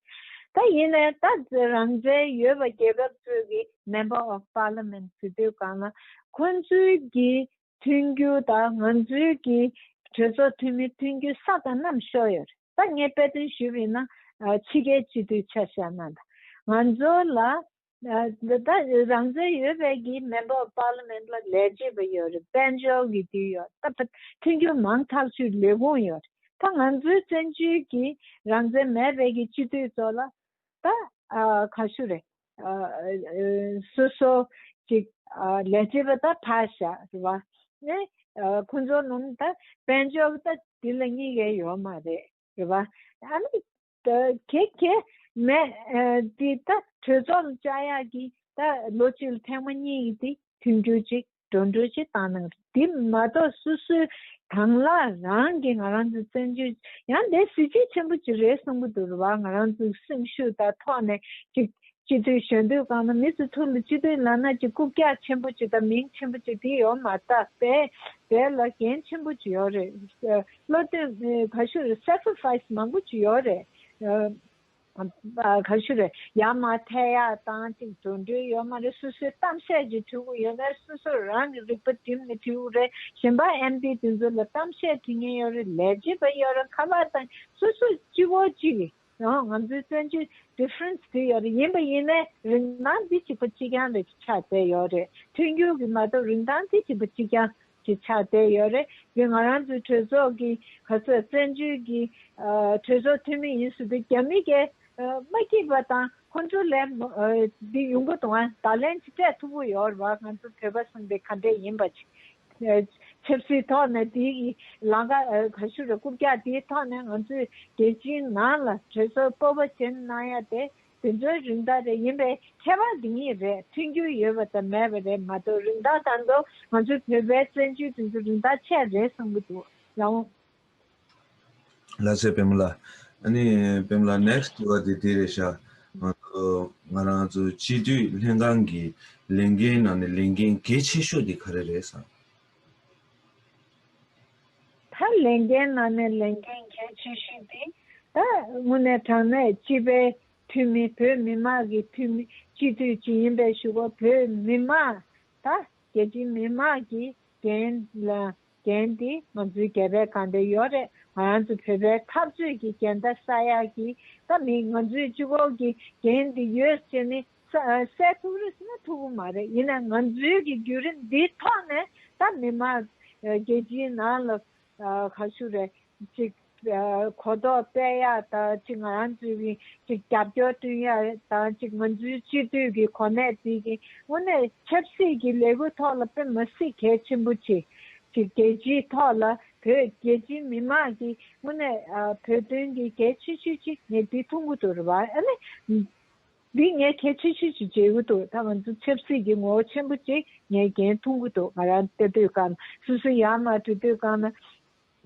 ད་ཡིན་ནའི་ད་རང་བཙན་ཡོད་པ་རྒྱལ་ཁབ་གཙོས་ཀྱི Member of Parliament ཟེར་དུས་གང་ལ་ཁོང་ཚོའི་གྱི་མཐུན་རྒྱུ་དང་ང་ཚོའི་གི་གྲོས་ཚོགས་འཐུས་མི་མཐུན་རྒྱུ་ས་དང་ནམ་ཤོར་ཡོད་རེད་ད་ངས་དཔེ་སྟོན་ཞུས་པའི་ནང་ཕྱི་རྒྱལ་སྤྱི་འཐུས་ཆ་བཞག་གནང་ད་ང་ཚོ་ལ་ད་རང་བཙན་ཡོད་པའི་གི་མེ་འབོག Parliament ལ་ལས་བྱེད་པ་ཡོད་རེད་དཔལ་འབྱོར་གི་དུས་ཡོད་རེད་ད་མཐུན་རྒྱུ་མང་ཐག་ཆུད་ལས་ཁུངས་ཡོད་རེད་ད་ང་ཚོའི་བཙན་བྱོལ་གི་རང་བཙན་མེད་པའི་གི་སྤྱི་འཐུས་ཚོ་ལ་ད་ག་ཤུ་རེད་སོ་སོ་ཅིག་ལས་བྱེད་པ་དང་ཕ་ཞག་ཟེར་བ་ནི་ཁོང་ཚོ་རྣམས་དང་དཔལ་འབྱོར་དང་དེ་ལ་གཉིས་ཀ་ཡོད་མ་རེད་ཟེར་བ། ཁྱེད་ཀྱིས་མེ་དེ་དང་གྲོས་ཚོགས་བཅའ་ཡག་གི་ལོ་གཅིག་ལ་ཐེངས་མ་གཉིས་དེ་མཐུན་འགྱུར་ཅིག་འགྲོ་འགྲོ་ཅི་བཏང་གནང་རོགས། དེ་མ་གཏོགས་སུ་སུ་དང་གླ་རང་གི་ང་རང་ཚོ་བཙན་བྱོལ་ཡང་འདས་གཟི་བརྗིད་ཆེན་པོ་གཅིག་རེད་གསུང་གི་འདུག་རུ་བ་ང་རང་ཚོ་སེམས་ཤུགས་དང་ཐོག་ནས་ཅིག་སྤྱི་འཐུས་གཞོན་དུས་གང་ན་མི་ཚོ་ཐུག་ལ་སྤྱི་འཐུས་ལ་ན་ཅིག་རྐུབ་བཀྱག་ཆེན་པོ་ཅིག་དང་མིང་ཆེན་པོ་ཅིག་དེ་ཡོད་མ་བཏགས་པས་བས་ལ་འགན་ཆེན་པོ་ཅིག་ཡོད་རེད་བློ་བཏོན་ག་ཤུ་རེད sacrifice མང་པོ་ཅིག་ཡོད་རེད། ག་ཞུ་རེད་ཡང་མ་ཐལ་ཡག་ཏང་གཅིག་དོན་འགྲུལ་ཡོད་མ་རེད་སོ་སོའི་གཏམ་བཤད་ཀྱི་འཐུས་སྒོ་ཡོད་མེད་སོ་སོ་རང་གི་རིག་པ་བསྒྲིམས་ནས་འཐུས་སྒོ་རེད་གཞན་པ་ཨེམ་པི་དེ་ཚོ་ལ་གཏམ་བཤད་དྲི་ངན་ཡོད་རེད་ལས་བྱེད་པ་ཡོད་རེད་ཁ་བར་དང་སོ་སོ་སྤྱི་བོ་གཅིག་ཡང་ང་ཚོའི་བཙན་བྱོལ Difference དེ་ཡོད་རེད་ཡིན་པ་ཡིན་ནའི་རིན་ཐང་འདི་གཅིག་པ་གཅིག་རྐྱང་རེད་ཆགས་བསྡད་ཡོད་རེད་མཐུན་འགྱུར་གྱི་མ་གཏོགས་རིན་ཐང་འདི་གཅིག་པ་གཅིག་རྐྱང་གྱི་ཆ་དེ་ཡོད་རེད་དེ་ང་རང་ཚོའི་གྲོས་ཚོགས་ཀྱི་ག་ཚོད་བཙན་བྱོལ་གྱི་གྲོས་ཚོགས་འཐུས་མི་ཡིན་ཟེར་དུས་རྒྱ་མི་གས་མ་སྐྱིད་པ་དང་ཁོ་ཚོ་ལས་འདི་ཡོང་གི་དང་ད་ལན་ཅི་སྤྲད་ཐུབ་པོ་ཡོད་རེད་བ་ང་ཚོ་བོད་པ་གསུམ་པའི་ག་འདྲས་ཡིན་པ་ཆབ་སྲིད་ཐོག་ནས་དེ་ཡི་ལང་ཀ་ག་ཤུ་རེད་རྐུབ་བཀྱག་དེ་ཐོག་ནས་ང་ཚོའི་རྒྱལ་སྤྱིའི་ནང་ལ་གྲོས་ཚོགས་སྤོབས་པ་ཅན་གནང་ཡ་དེ་དེ་ཚོའི་རིན་ཐང་རེ་ཡིན་པའི་ཁྱད་པར་འདི་གཉིས་རེད་མཐུན་འགྱུར་ཡོད་པ་དང་མེད་པ་རེད་མ་གཏོགས་རིན་ཐང་དང་དུ་ང་ཚོའི་བོད་པའི་བཙན་བྱོལ་དེ་ཚོ་རིན་ཐང་ཆད་རེད་གསུང་གི་འདུག་ཡང་འོང། ལ་སེ་བེམ་ལ། ཨནི་བེམ་ལ next དྲི་བ་དེ་དེ་རེད་ཤག་ང་ཚོ་ང་རང་ཚོ་སྤྱི་འཐུས་ལྷན་ཁང་གི་ལས་འགན་ནང་ནས་ལས་འགན་གལ་ཆེ་ཤོས་དེ་ག་རེ་རེད་བསམ། ད་ལས་འགན་ནང་ནས་ལས་འགན་གལ་ཆེ་ཤོས་དེ་ད་དངོས་གནས་དྲང་གནས་སྤྱི་པའི་འཐུས་མི་བོད་མི་མང་གི་འཐུས་མི་སྤྱི་འཐུས་ཅིག་ཡིན་པའི་ཞུ་བ་བོད་མི་མང་ད་རྒྱལ་སྤྱི་མི་དམངས་ཀྱི་འགན་ལ་འགན་དེ་ང་ཚོའི་རྒྱལ་བའི་གང་དེ་ཡོད་རེད་ང་རང་ཚོ་བོད་པའི་འཐབ་རྩོད་ཀྱི་འགན་ད་ས་ཡག་གི་ད་མི་ང་ཚོའི་སྤྱི་བོ་གི་འགན་དེ་ཡོད་ཟེར་ནས་སའི་ཐུགས་རིས་ནི་ཐུགས་མ་རེད་ཡིན་ན་ང་ཚོའི་གི་བརྒྱུད་རིམ་འདི་ཐོག་ནས་ད་མི་དམངས་རྒྱལ་སྤྱིའི་ནང་ལ་ག་ཞུ་རེ་ཅིག་གོ་རྟོགས་སྤེལ་ཡ་དང་ཅིག་ང་རང་ཚོའི་གི་ཅིག་རྒྱབ་སྐྱོར་བསྐྲུན་ཡ་དང་ཅིག་ང་ཚོའི་སྤྱི་འཐུས་གི་གོ་གནས་འདི་གི་དངོས་གནས་ཆབ་སྲིད་གི་ལས་འགུལ་ཐོག་ལ་དཔེ་མ་སྲིད་གལ་ཆེན་པོ་ཆེ་ཅིག་རྒྱལ་སྤྱིའི་ཐོག་ལ་བོད་རྒྱལ་སྤྱིའི་མི་དམངས་གི་དངོས་གནས་བོད་དོན་གི་གལ་ཆེ་ཤོས་ཅིག་ངས་འདི་ཐུགས་མགོ་དུ་རུ་བ་ཨ་ནི། འདི་ངས་ཁྱེད་ཆུ་ཤུར་གྱི་བྱེའུ་བཏུག་ད་ང་ཚོ་ཆབ་སྲིད་ཀྱི་ངོ་བོ་ཆེན་པོ་གཅིག་ངས་གྱེན་ཐུག་གི་འདུག་ང་རང་སྟེ་དུས་སྐབས་སུ་སུ་ཡར་མར་དུས་དུས་སྐབས་ན་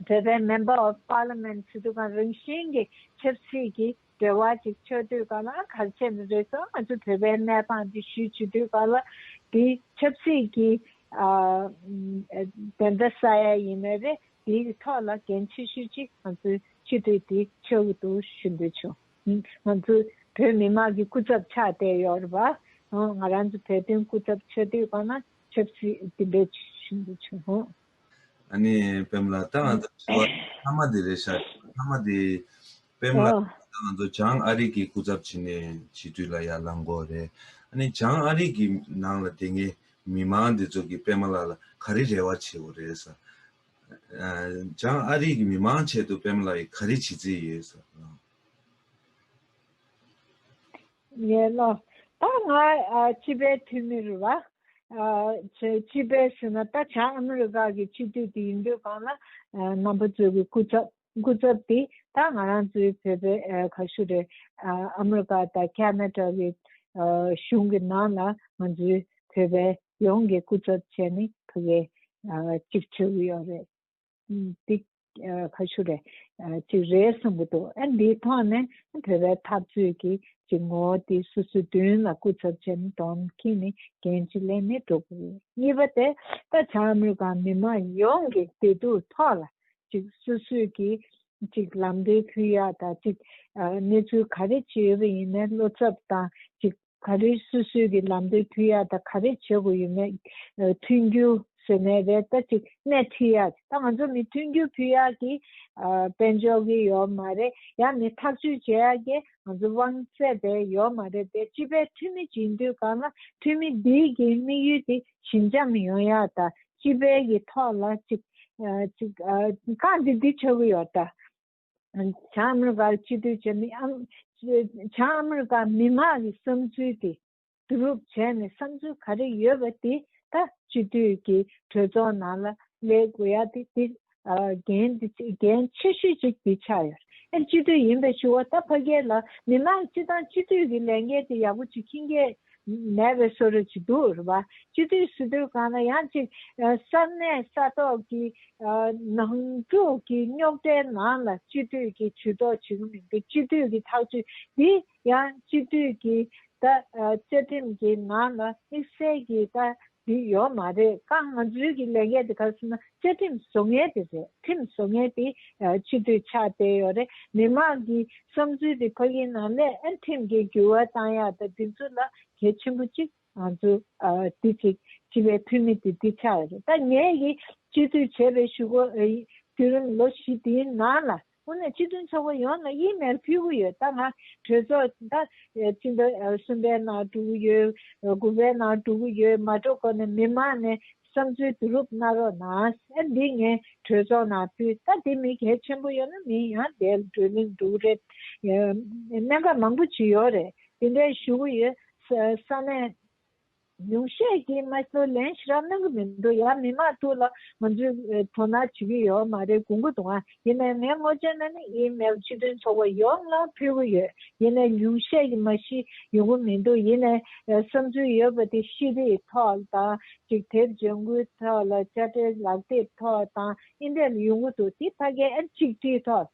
བོད་པའི Member of Parliament སུ་དུས་སྐབས་རང་བཞིན་གྱི་ཆབ་སྲིད་ཀྱི་འབྲེལ་བ་ཅིག་ཆོད་དུས་སྐབས་ལ་ག་རེ་བྱས་ནས་རེད་སོང་ང་ཚོ་བོད་པའི་གནས་སྟངས་འདི་ཞུས་ཆུ་དུས་སྐབས་ལ་འདི་ཆབ་སྲིད་ཀྱི་བདེན་མཐའ་ས་ཡ་ཡིན་ན་རེད་འདིའི་ཐོག་ལ་གྱེན་ཆུ་ཤུར་གཅིག་ང་ཚོས་ཆུ་དུས་འདི་ཆོད་གི་འདུག་ཞུ་འདོད་བྱུང། ང་ཚོ་བོད་མི་དམངས་ཀྱི་སྐུ་ཚབ་ཆགས་བསྡད་ཡོད་རེད་པ། ང་རང་ཚོ་བོད་དོན་སྐུ་ཚབ་ཆགས་བསྡད་ཡོད་པ་ན་ཆབ་སྲིད་དེ་འདྲ་བྱུང་འདུག་ཆུང་ཧོ། ཨ་ནི་པེམ་ལགས་ད་ང་ཚོ་དྲི་བ་མཐའ་མ་དེ་རེད་ཤག་མཐའ་མ་དེ། པེམ་ལགས་ད་ང་ཚོ་བྱང་ཨ་རིག་གི་སྐུ་ཚབ་བྱེད་ནས་བྱེད་དུས་ལ་ཡར་ལངས་དགོས་རེད་ཨ་ནི་བྱང་ཨ་རིག་གི་ནང་ལ་དེ་སྔའི་མི་མང་དེ་ཚོ་གི་པེམ་ལགས་ལ་ག་རེ་རེ་བ་བྱེད་དགོས་རེད་ས། བྱང་ཨ་རིའི་གི་མི་མང་ཆེད་དུ་པེམ་ལ་ཡི་ག་རེ་བྱེད་རྩིས་ཡོད་ཟེར་བ་དང། ཡིན་ནོ། ད་ང་སྤྱི་པའི་འཐུས་མི་རུ་བ། སྤྱི་པའི་ཟེར་ན་ད་བྱང་ཨ་མི་རི་ཀ་གི་སྤྱི་འཐུས་དེ་ཡིན་དུས་གང་ན་རྣམ་པ་གཙོས་གི་སྐུ་ཚབ། སྐུ་ཚབ་དེ་ད་ང་རང་ཚོའི་བོད་པའི་ག་ཤུ་རེད་ཨ་མི་རི་ཀ་དང་ཁ་ན་ཏྲ་གི་གཞུང་གི་ནང་ལ་ང་ཚོའི་བོད་པའི་ཡོངས་ཀྱི་སྐུ་ཚབ་བྱས་ནས་ཕུ་གེ་གཅིག་བྱོས་གི་ཡོད་རེད་འདི་ག་ཤུ་རེད་གཅིག་རེད་གསུང་གི་འདུག་ཨ་འདིའི་ཐོག་ནས་བོད་པའི་འཐབ་རྩོད་ཀྱི་གཅིག་ངོ་བོ་དེ་སུ་སུ་བདུན་ལ་སྐུ་ཚབ་བྱས་ནས་དོན་གྱིས་ནི་འགན་གཅིག་ལེན་ནས་འགྲོ་གི་རེད་གཉིས་པ་དེ་ད་ཆ་ཨ་མི་རི་ཀ་མི་མང་ཡོངས་ཀྱི་བདེ་སྡུག་ཐོག་ལ་ཅིག་སུ་སུས་ཀྱིས་ཅིག་ལམ་འབྲས་ཕུལ་ཡག་དང་ཅིག་གནས་ཚུལ་ག་རེ་བྱེད་ཡོད་པ་ཡིན་མེད་བློ་འཚབ་དང་ཅིག་ག་རེ་སུ་སུས་ཀྱིས་ལམ་འབྲས་ཕུལ་ཡག་དང་ག་རེ་བྱེད་དགོས་ཡོད་མེད་མཐུན་འགྱུར་ཟེར་ནས་རེད་ད་ཅིག་སྣེ་ཁྲིད་ཡག་ཅིག་ད་ང་ཚོ་མི་མཐུན་འགྱུར་ཕུལ་ཡག་གི་དཔལ་འབྱོར་གྱི་ཡོད་མ་རེད་ཡང་མི་ཐག་གཅོད་བྱེད་ཡག་གི་ང་ཚོ་དབང་ཚད་པའི་ཡོད་མ་རེད་དེ་སྤྱི་པའི་འཐུས་མི་བྱེད་འདོད་གང་ལ་འཐུས་མི་འདིའི་གི་དམིགས་ཡུལ་དེ་ཞི་འཇམ་ཡང་ཡང་དང་སྤྱི་དཔལ་གྱི་ཐོག་ལ་ཅིག། རྐང་འདི་འདི་ཆོད་གི་ཡོད་དང། བྱང་ཨ་མི་རི་ཀར་སྤྱི་འཐུས་བྱས་མི་ཨང། བྱང་ཨ་མི་རི་ཀ་མི་དམངས་ཀྱི་བསམ་ཚུལ་དེ་བསྡུ་རུབ་བྱས་ནས་བསམ་ཚུལ་ག་རེ་ཡོད་པ་དེ་དག་སྤྱི་འཐུས་ཀྱི་གྲོས་ཚོགས་ནང་ལ་སླེལ་དགོས་ཡ་དེ་དེ་འགན་ཆེ་ཤོས་གཅིག་དེ་ཆགས་ཡོད། ཨེ་སྤྱི་འཐུས་ཡིན་པའི་ཕྱུག་བ་ད་ཕ་སྐད་ལ་མི་མང་སྤྱི་བཏང་སྤྱི་འཐུས་ཀྱི་ལས་འགན་དེ་ཡག་པོ་བྱེད་ཁྱི་འགན་མེད་པའི་བསོད་རོལ་བྱེད་འདུག་རེད་བ། སྤྱི་འཐུས་སུ་འདོད་གང་ན་ཡང་ཅིག་གསར་གནས་ས་ཐོག་གི་ནང་འཁྲུག་གི་རྙོག་གྲའི་ནང་ལ་སྤྱི་འཐུས་ཀྱི་ཇུས་གཏོགས་བྱེད་ཀྱི་མི་འདུག་སྤྱི་འཐུས་ཀྱི་ཐག་གཅོད་དེ་ཡང་སྤྱི་མཐུས་ཀྱི་ད་བཅའ་ཁྲིམས་ཀྱི་ནང་ལ་དམིགས་བསལ་གྱི་ད་དེ་ཡོད་མ་རེད་ཀ་ང་ཚོའི་གི་ལས་འགན་དེ་ག་སེ་ན་བཅའ་ཁྲིམས་བཟོ་མཁན་དེ་རེད་ཁྲིམས་བཟོ་མཁན་དེ་སྤྱི་མཐུས་ཆགས་བསྡད་ཡོད་རེད་མི་མང་གི་བསམ་ཚུལ་དེ་ཕ་གིའི་ནང་ལས་ཨེ་ཁྲིམས་ཀྱི་འགྱུར་བ་བཏང་ཡག་ད་དེ་ཚོ་ལ་གལ་ཆེན་པོ་གཅིག་ང་ཚོ་དེ་གཅིག་སྤྱི་པའི་འཐུས་མི་དེ་དེ་ཆགས་ཡོད་རེད་ད་ངས་གི་སྤྱི་མཐུས་བྱས་པའི་ཞུ་སྒོ་རྒྱུད་རིམ་ལོ་བཞི་དེའི་ནང་ལ་ཁོ་ནས་སྤྱི་དོན་ཚོགས་པ་ཡོངས་ལ་དབྱིན་མེར་ཕུལ་གི་ཡོད་ད་ང་གྲོས་ཚོགས་ད་སྤྱི་ཟླ་གསུམ་པའི་ནང་གྲུབ་གི་ཡོད་དགུ་པའི་ནང་གྲུབ་གི་ཡོད་མ་གྲོ་གོ་ནས་མི་མང་ནས་བསམ་ཚུལ་བསྡུ་རུབ་གནང་རོགས་གནང་ཨ་འདི་ངས་གྲོས་ཚོགས་ནང་ཕུལ་ད་དེ་མི་གལ་ཆེན་པོ་ཡོད་ན་མིན་ཡང་བསྡད་འགྲོ་མིན་འགྲོ་གི་རེད་གནད་འགག་མང་པོ་བྱུས་ཡོད་རེད་དེ་འདྲའི་ཞུ་གི་ཡོད་ས་ནས། ཉུང་ཤས་ཀྱིས་ངལ་རྩོལ་ལེན་ཤི་རག་གནང་གི་མི་འདུག་ཡ་མི་མང་ཐུགས་ལ་ང་ཚོས་དོ་སྣང་བྱེད་ཀྱི་ཡོད་མ་རེད་གོ་འགུ་དང་ཡིན་ནའི་ངས་སྔོ་ཆེན་ན་ནི་ཡིན་མེད་ལ་ཆིག་སྒྲིལ་ཚོགས་པ་ཡོངས་ལ་ཕུལ་གི་ཡོད་ཡིན་ནའི་ཉུང་ཤས་ཀྱིས་མ་ཤི་ཡོང་གི་མི་འདུག་ཡིན་ནའི་བསམ་ཚུལ་ཡོད་པ་དེ་ཤི་རིགས་ཐོག་དང་གཅིག་དེབ་འཇོག་འགུལ་ཐོག་ལ་དཔྱ་ཁྲལ་ལག་དེབ་ཐོག་དང་ཨིན་ཏེར་ལ་ཡོང་གི་འདུག་དེ་ཕ་སྐད་ཨེར་ཆིག་སྒྲིལ་ཐོག།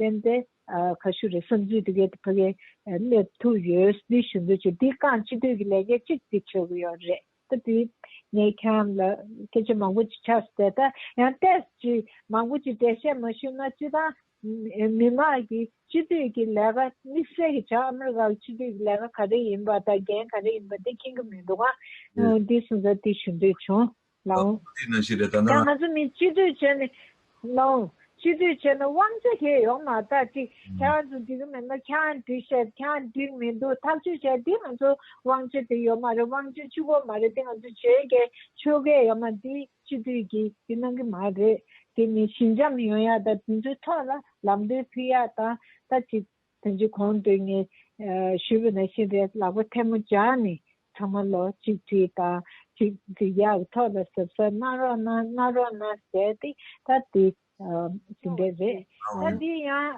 བསྟན་ཏེ། ག་ཞུ་རེད་བསམ་ཚུལ་འདི་གའི་ཕ་གའི་གནས་ཐུག་ཡོད་འདི་ཞུ་འདོད་ཆེ་འདི་རྐང་སྤྱི་འཐུས་ཀྱི་ལས་ཀའི་གཅིག་འདི་ཆོག་གི་ཡོད་རེད་ད་དེ་ངས་ཁྱང་ལ་སྐད་ཆ་མང་པོ་ཅིག་ཆགས་སུ་བལྟས་ད་ཡང་བལྟས་སུ་ཅིག་མང་པོ་ཅིག་འགྲེལ་བཤད་མ་ཞུས་ན་སྤྱི་བཏང་མི་མང་གི་སྤྱི་འཐུས་ཀྱི་ལས་ཀ་དམིགས་བསལ་གྱི་བྱ་ཨ་མི་རི་ཀ་ལ་སྤྱི་འཐུས་ཀྱི་ལས་ཀ་ག་རེ་ཡིན་པ་དང་འགན་ག་རེ་ཡིན་པ་འདི་མཁྱེན་གི་མི་འདུག་ཨང་འདི་གསུངས་ད་དེ་ཞུ་འདོད་བྱུང། གནང། དེ་ནང་བཞིན་རེད་ད་ནང། ཡང་ང་ཚོ་མི་སྤྱི་འཐུས་བྱས་ནས། གནང། སྤྱི་འཐུས་བྱས་ནས་དབང་ཆ་ཁྱེར་ཡོང་མ་ཐག་ཅིག་ཁྱེད་རང་ཚོ་འགྲིག་གི་མེད་ན་ཁྱེད་རང་འགྲིག་བཤད་ཁྱེད་རང་འགྲིག་མི་འདུག་ཐག་གཅོད་བྱས་དེ་ང་ཚོ་དབང་ཆ་དེ་ཡོད་མ་རེད་དབང་ཆ་བཅུ་པོ་མ་རེད་དེ་ང་ཚོ་བྱེད་དགེ་ཆོས་དགེ་ཡོད་མ་འདི་སྤྱི་འཐུས་ཀྱི་དེ་གནང་གི་མ་རེད་དེ་ནི་ཞི་འཇམ་ཡོང་ཡག་དང་དེ་ཚོའི་ཐོག་ལ་ལམ་སྟོན་ཕུལ་ཡག་དང་ད་ཅིག་དོན་གྱི་གོང་དུ་ངས་ཞུས་པ་ནི་ཤིང་རྟའི་ལག་པ་ཐལ་མོ་སྦྱར་ནས་ཚང་མ་ལོ་གཅིག་དྲིས་པ་གཅིག་འདི་ཡར་ཐོག་ལ་ཟབ་ཟབ་གནང་རོགས་གནང་གནང་རོགས་གནང་ཟེར་ཏེ་ད་དེ་ཟིན་པས་རེད། ད་དེ་ཡང་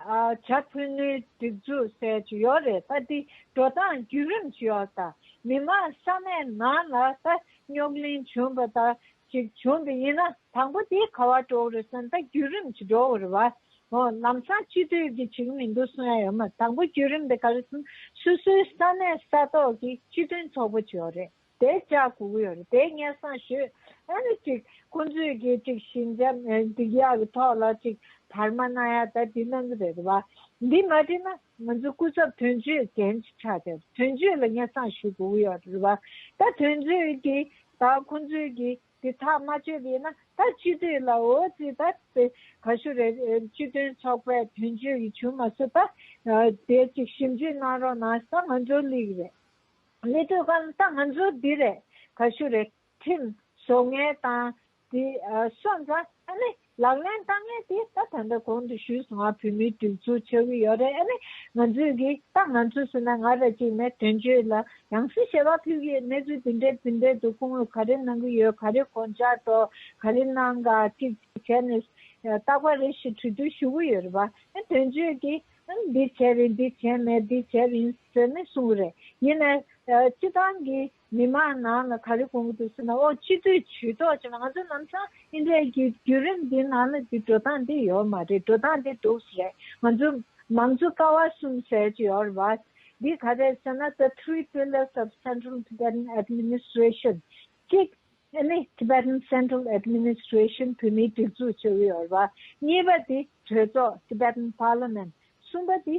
བྱ་ཕུ་ནུའི་སྒྲིག་འཛུགས་ཟེར་གྱི་ཡོད་རེད་ད་དེ་འགྲོ་སྟངས་བརྒྱུད་རིམ་ཞིག་ཡོད་ད། མི་མང་ས་གནས་ནང་ལ་ད་རྙོག་གླེང་བྱུང་བ་ད་ཅིག་བྱུང་དུ་ཡིན་ན་དང་པོ་དེའི་ཁ་བ་གྲོག་རི་སོན་རྟ་བརྒྱུད་རིམ་གྱིས་འགྲོ་བར་བ། ལམ་སང་སྤྱི་འཐུས་ཀྱི་ཅིག་མི་འདུག་གསུང་ཡ་ཡོད་མོད་དང་པོ་བརྒྱུད་རིམ་དེ་ག་རེ་ཟུང་སུ་སུའི་ས་གནས་ས་ཐོག་གི་སྤྱི་མཐུན་ཚོགས་པོ་བྱས་ཡོད་རེད་དེ་ཅག་གོ་གི་ཡོད་རེད་དེ་སྙན་གསང་ཞུས་ཨ་རེད་ཅིག་ཁོང་ཚོས་ཀྱིས་ཅིག་ཤིང་ཆ་འདི་ཡག་གི་ཐོག་ལ་ཅིག་བར་མ་གནང་ཡ་ད་དེ་གནང་གི་རེད་བ་འདི་མ་བྲིས་ན། ང་ཚོའི་སྐུ་ཚབ་དོན་གཅོད་གན་གཅིག་ཆགས་ཏེ་དོན་གཅོད་ལ་སྙན་གསང་ཞུ་དགོས་ཀྱི་ཡོད་རེད་པ། ད་དོན་གཅོད་ཀྱིས་ད་ཁོང་ཚོས་ཀྱིས་དེ་ཐག་མ་གཅོད་པའི་ན་ད་སྤྱི་འཐུས་ལ་འོ་ཙི་ད་དེ་ག་ཞུ་རེད་སྤྱི་དོན་ཚོགས་པས་དོན་གཅོད་ཀྱི་བྱུས་མ་བསུབ་པ་དེ་གཅིག་ཞིབ་འཇུག་གནང་རོགས་གནང་ད་ང་ཚོའི་ལིག་རེད་ལི་ཐོས་ཁ་ན་ད་ང་ཚོའི་འདི་རེད་ག་ཞུ་རེད་ཁྲིམས་བཟོ་ངའི་ཏང་དེ་སོགས་འདྲ་ཨ་ནི་ལག་ལེན་བསྟར་ངེས་དེ་ད་ད་ལྟ་གོང་དུ་ཞུས་སོང་ང་བོད་མིའི་གྲོས་ཚོགས་ཆགས་ཀྱི་ཡོད་རེད་ཨ་ནི་ང་ཚོས་གི་ད་ང་ཚོས་ཟེར་ན་ང་ར་གཅིག་ནས་དོན་གཅོད་ལ་ཡང་སྲིད་ཞེས་པ་ཕུལ་གི་ཡོད་གནས་ཚུལ་དེ་འདྲའི་ཕུལ་འདོད་དུ་ཁོང་གིས་ག་རེ་གནང་གི་ཡོད་ག་རེ་གོ་འཇག་ཏོ་ག་རེ་གནང་ག་ཅིག་ཅིག་བྱས་ནས་བཏགས་པ་རེད་ཞེས་གྲོས་བསྡུར་ཞུ་གི་ཡོད་རེད་བ་ཨ་དོན་གཅོད་ཀྱི་ཨ་འདི་བྱས་རེད་འདི་བྱས་མེད་འདི་བྱས་རིན་ཟེར་ནས་གསུང་གི་རེད་ཡིན་ན་སྤྱི་བཏང་གི་མི་མང་ནང་ལ་ག་རེ་གོ་གི་འདུག་ཟེར་ན་ཨོ་སྤྱི་འཐུས་ཇུས་ཏོག་ཅེས་པ་ང་ཚོ་ནམ་ཚང་ཨིན་ད་ཡི་བརྒྱུད་རིམ་འདི་ནང་ལ་འདི་འགྲོ་སྟངས་འདི་ཡོད་མ་རེད་འགྲོ་སྟངས་འདི་འདུག་ཟེར་རེད་ང་ཚོ་མང་གཙོ་ཀ་བ་གསུམ་ཟེར་གྱི་ཡོད་རེད་བ། འདི་ག་རེད་ཟེར་ན the three pillars of central Tibetan administration གཅིག་ཨེ་ནི Tibetan Central Administration བོད་མིའི་སྒྲིག་འཛུགས་ཅེས་པ་ཡོད་རེད་བ། གཉིས་པ་འདི་གྲོས་ཚོགས Tibetan Parliament གསུམ་པ་འདི་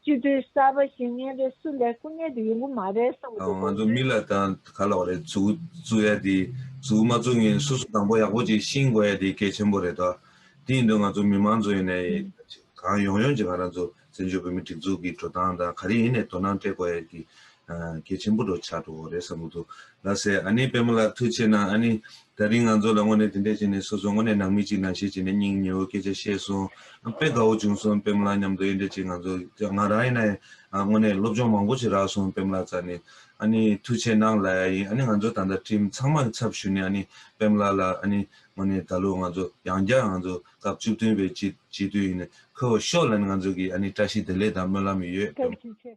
སྤྱི་འཐུས་གསར་པ་ཞིག་ཉན་རེ་སུ་ལས་སྐུ་ཉན་དུ་ཡོང་གི་མ་རེད་བསམ་གི་འདུག་ང་ཚོ་མི་ལ་དང་ག་ལ་བ་རེད་ཟུག་བཙུག་ཡ་དེ་ཟུག་མ་བཙུག་ངན་སུ་སུ་དང་པོ་ཡག་པོ་ཅིག་ཤིང་དགོ་ཡ་དེ་གལ་ཆེན་པོ་རེད་དོ་དེ་ཡིན་དུ་ང་ཚོ་མི་མང་ཚོ་ཡིན་ནའི་གང་ཡོང་ཡོང་ཅིག་ང་རང་ཚོ་བཙན་བྱོལ་བོད་མི་སྒྲིག་འཛུག་གི་འགྲོ་སྟངས་དང་ག་རེ་ཡིན་ནའི་དོ་སྣང་སྤྲད་དགོ་ཡ་དེ་གལ་ཆེན་པོ་འགྲོ་འཆར་འདུག་རེད་བསམ་གྱི་འདུག་ལགས་སེ་ཨ་ནི་པདྨ་ལགས་ཐུགས་ཆེ་གནང་ཨ་ནི་ད་རིང་ང་ཚོ་ལ་དངོས་ནས་དེ་འད་བྱས་ནས་སོ་སོ་དངོས་ནས་ནང་མི་གཅིག་ནང་བཤད་བྱས་ནས་སྙིང་ཉེ་བོ་སྐད་ཆ་བཤད་སོང་དཔེ་དགའ་བོ་བྱུང་སོང་པདྨ་ལགས་མཉམ་དུ་དབྱེ་འབྲས་ཅིག་ང་ཚོ་ང་རང་ཡིན་ན་ཡང་དངོས་ནས་སློབ་སྦྱོང་མང་པོ་ཞིག་རག་སོང་པདྨ་ལགས་རྩ་ནས་ཨ་ནི་ཐུགས་ཆེ་གནང་ལ་ཡ་ཡིན་ཨ་ནི་ང་ཚོ་ད་ལྟ་ཁྲིམས་ཚང་མ་ཚབ་ཞུས་ནས་ཨ་ནི་པདྨ་ལགས་ལ་ཨ་ནི་དངོས་ནས་ད་ལོ་ང་ཚོ་ཡང་བསྐྱར་ང་ཚོ་སྐབས་བཅུ་བདུན་པའི་སྤྱི་སྤྱི་འཐུས་ཡིན་ནས་འཁོད་བ་ཤོག་ལ་ནི་ང་ཚོ་གིས་ཨ་ནི་བཀྲ་ཤིས་བདེ་ལེགས་དང་སྨོན་ལམ་ཡོད། ཐུགས་རྗེ་ཆེ།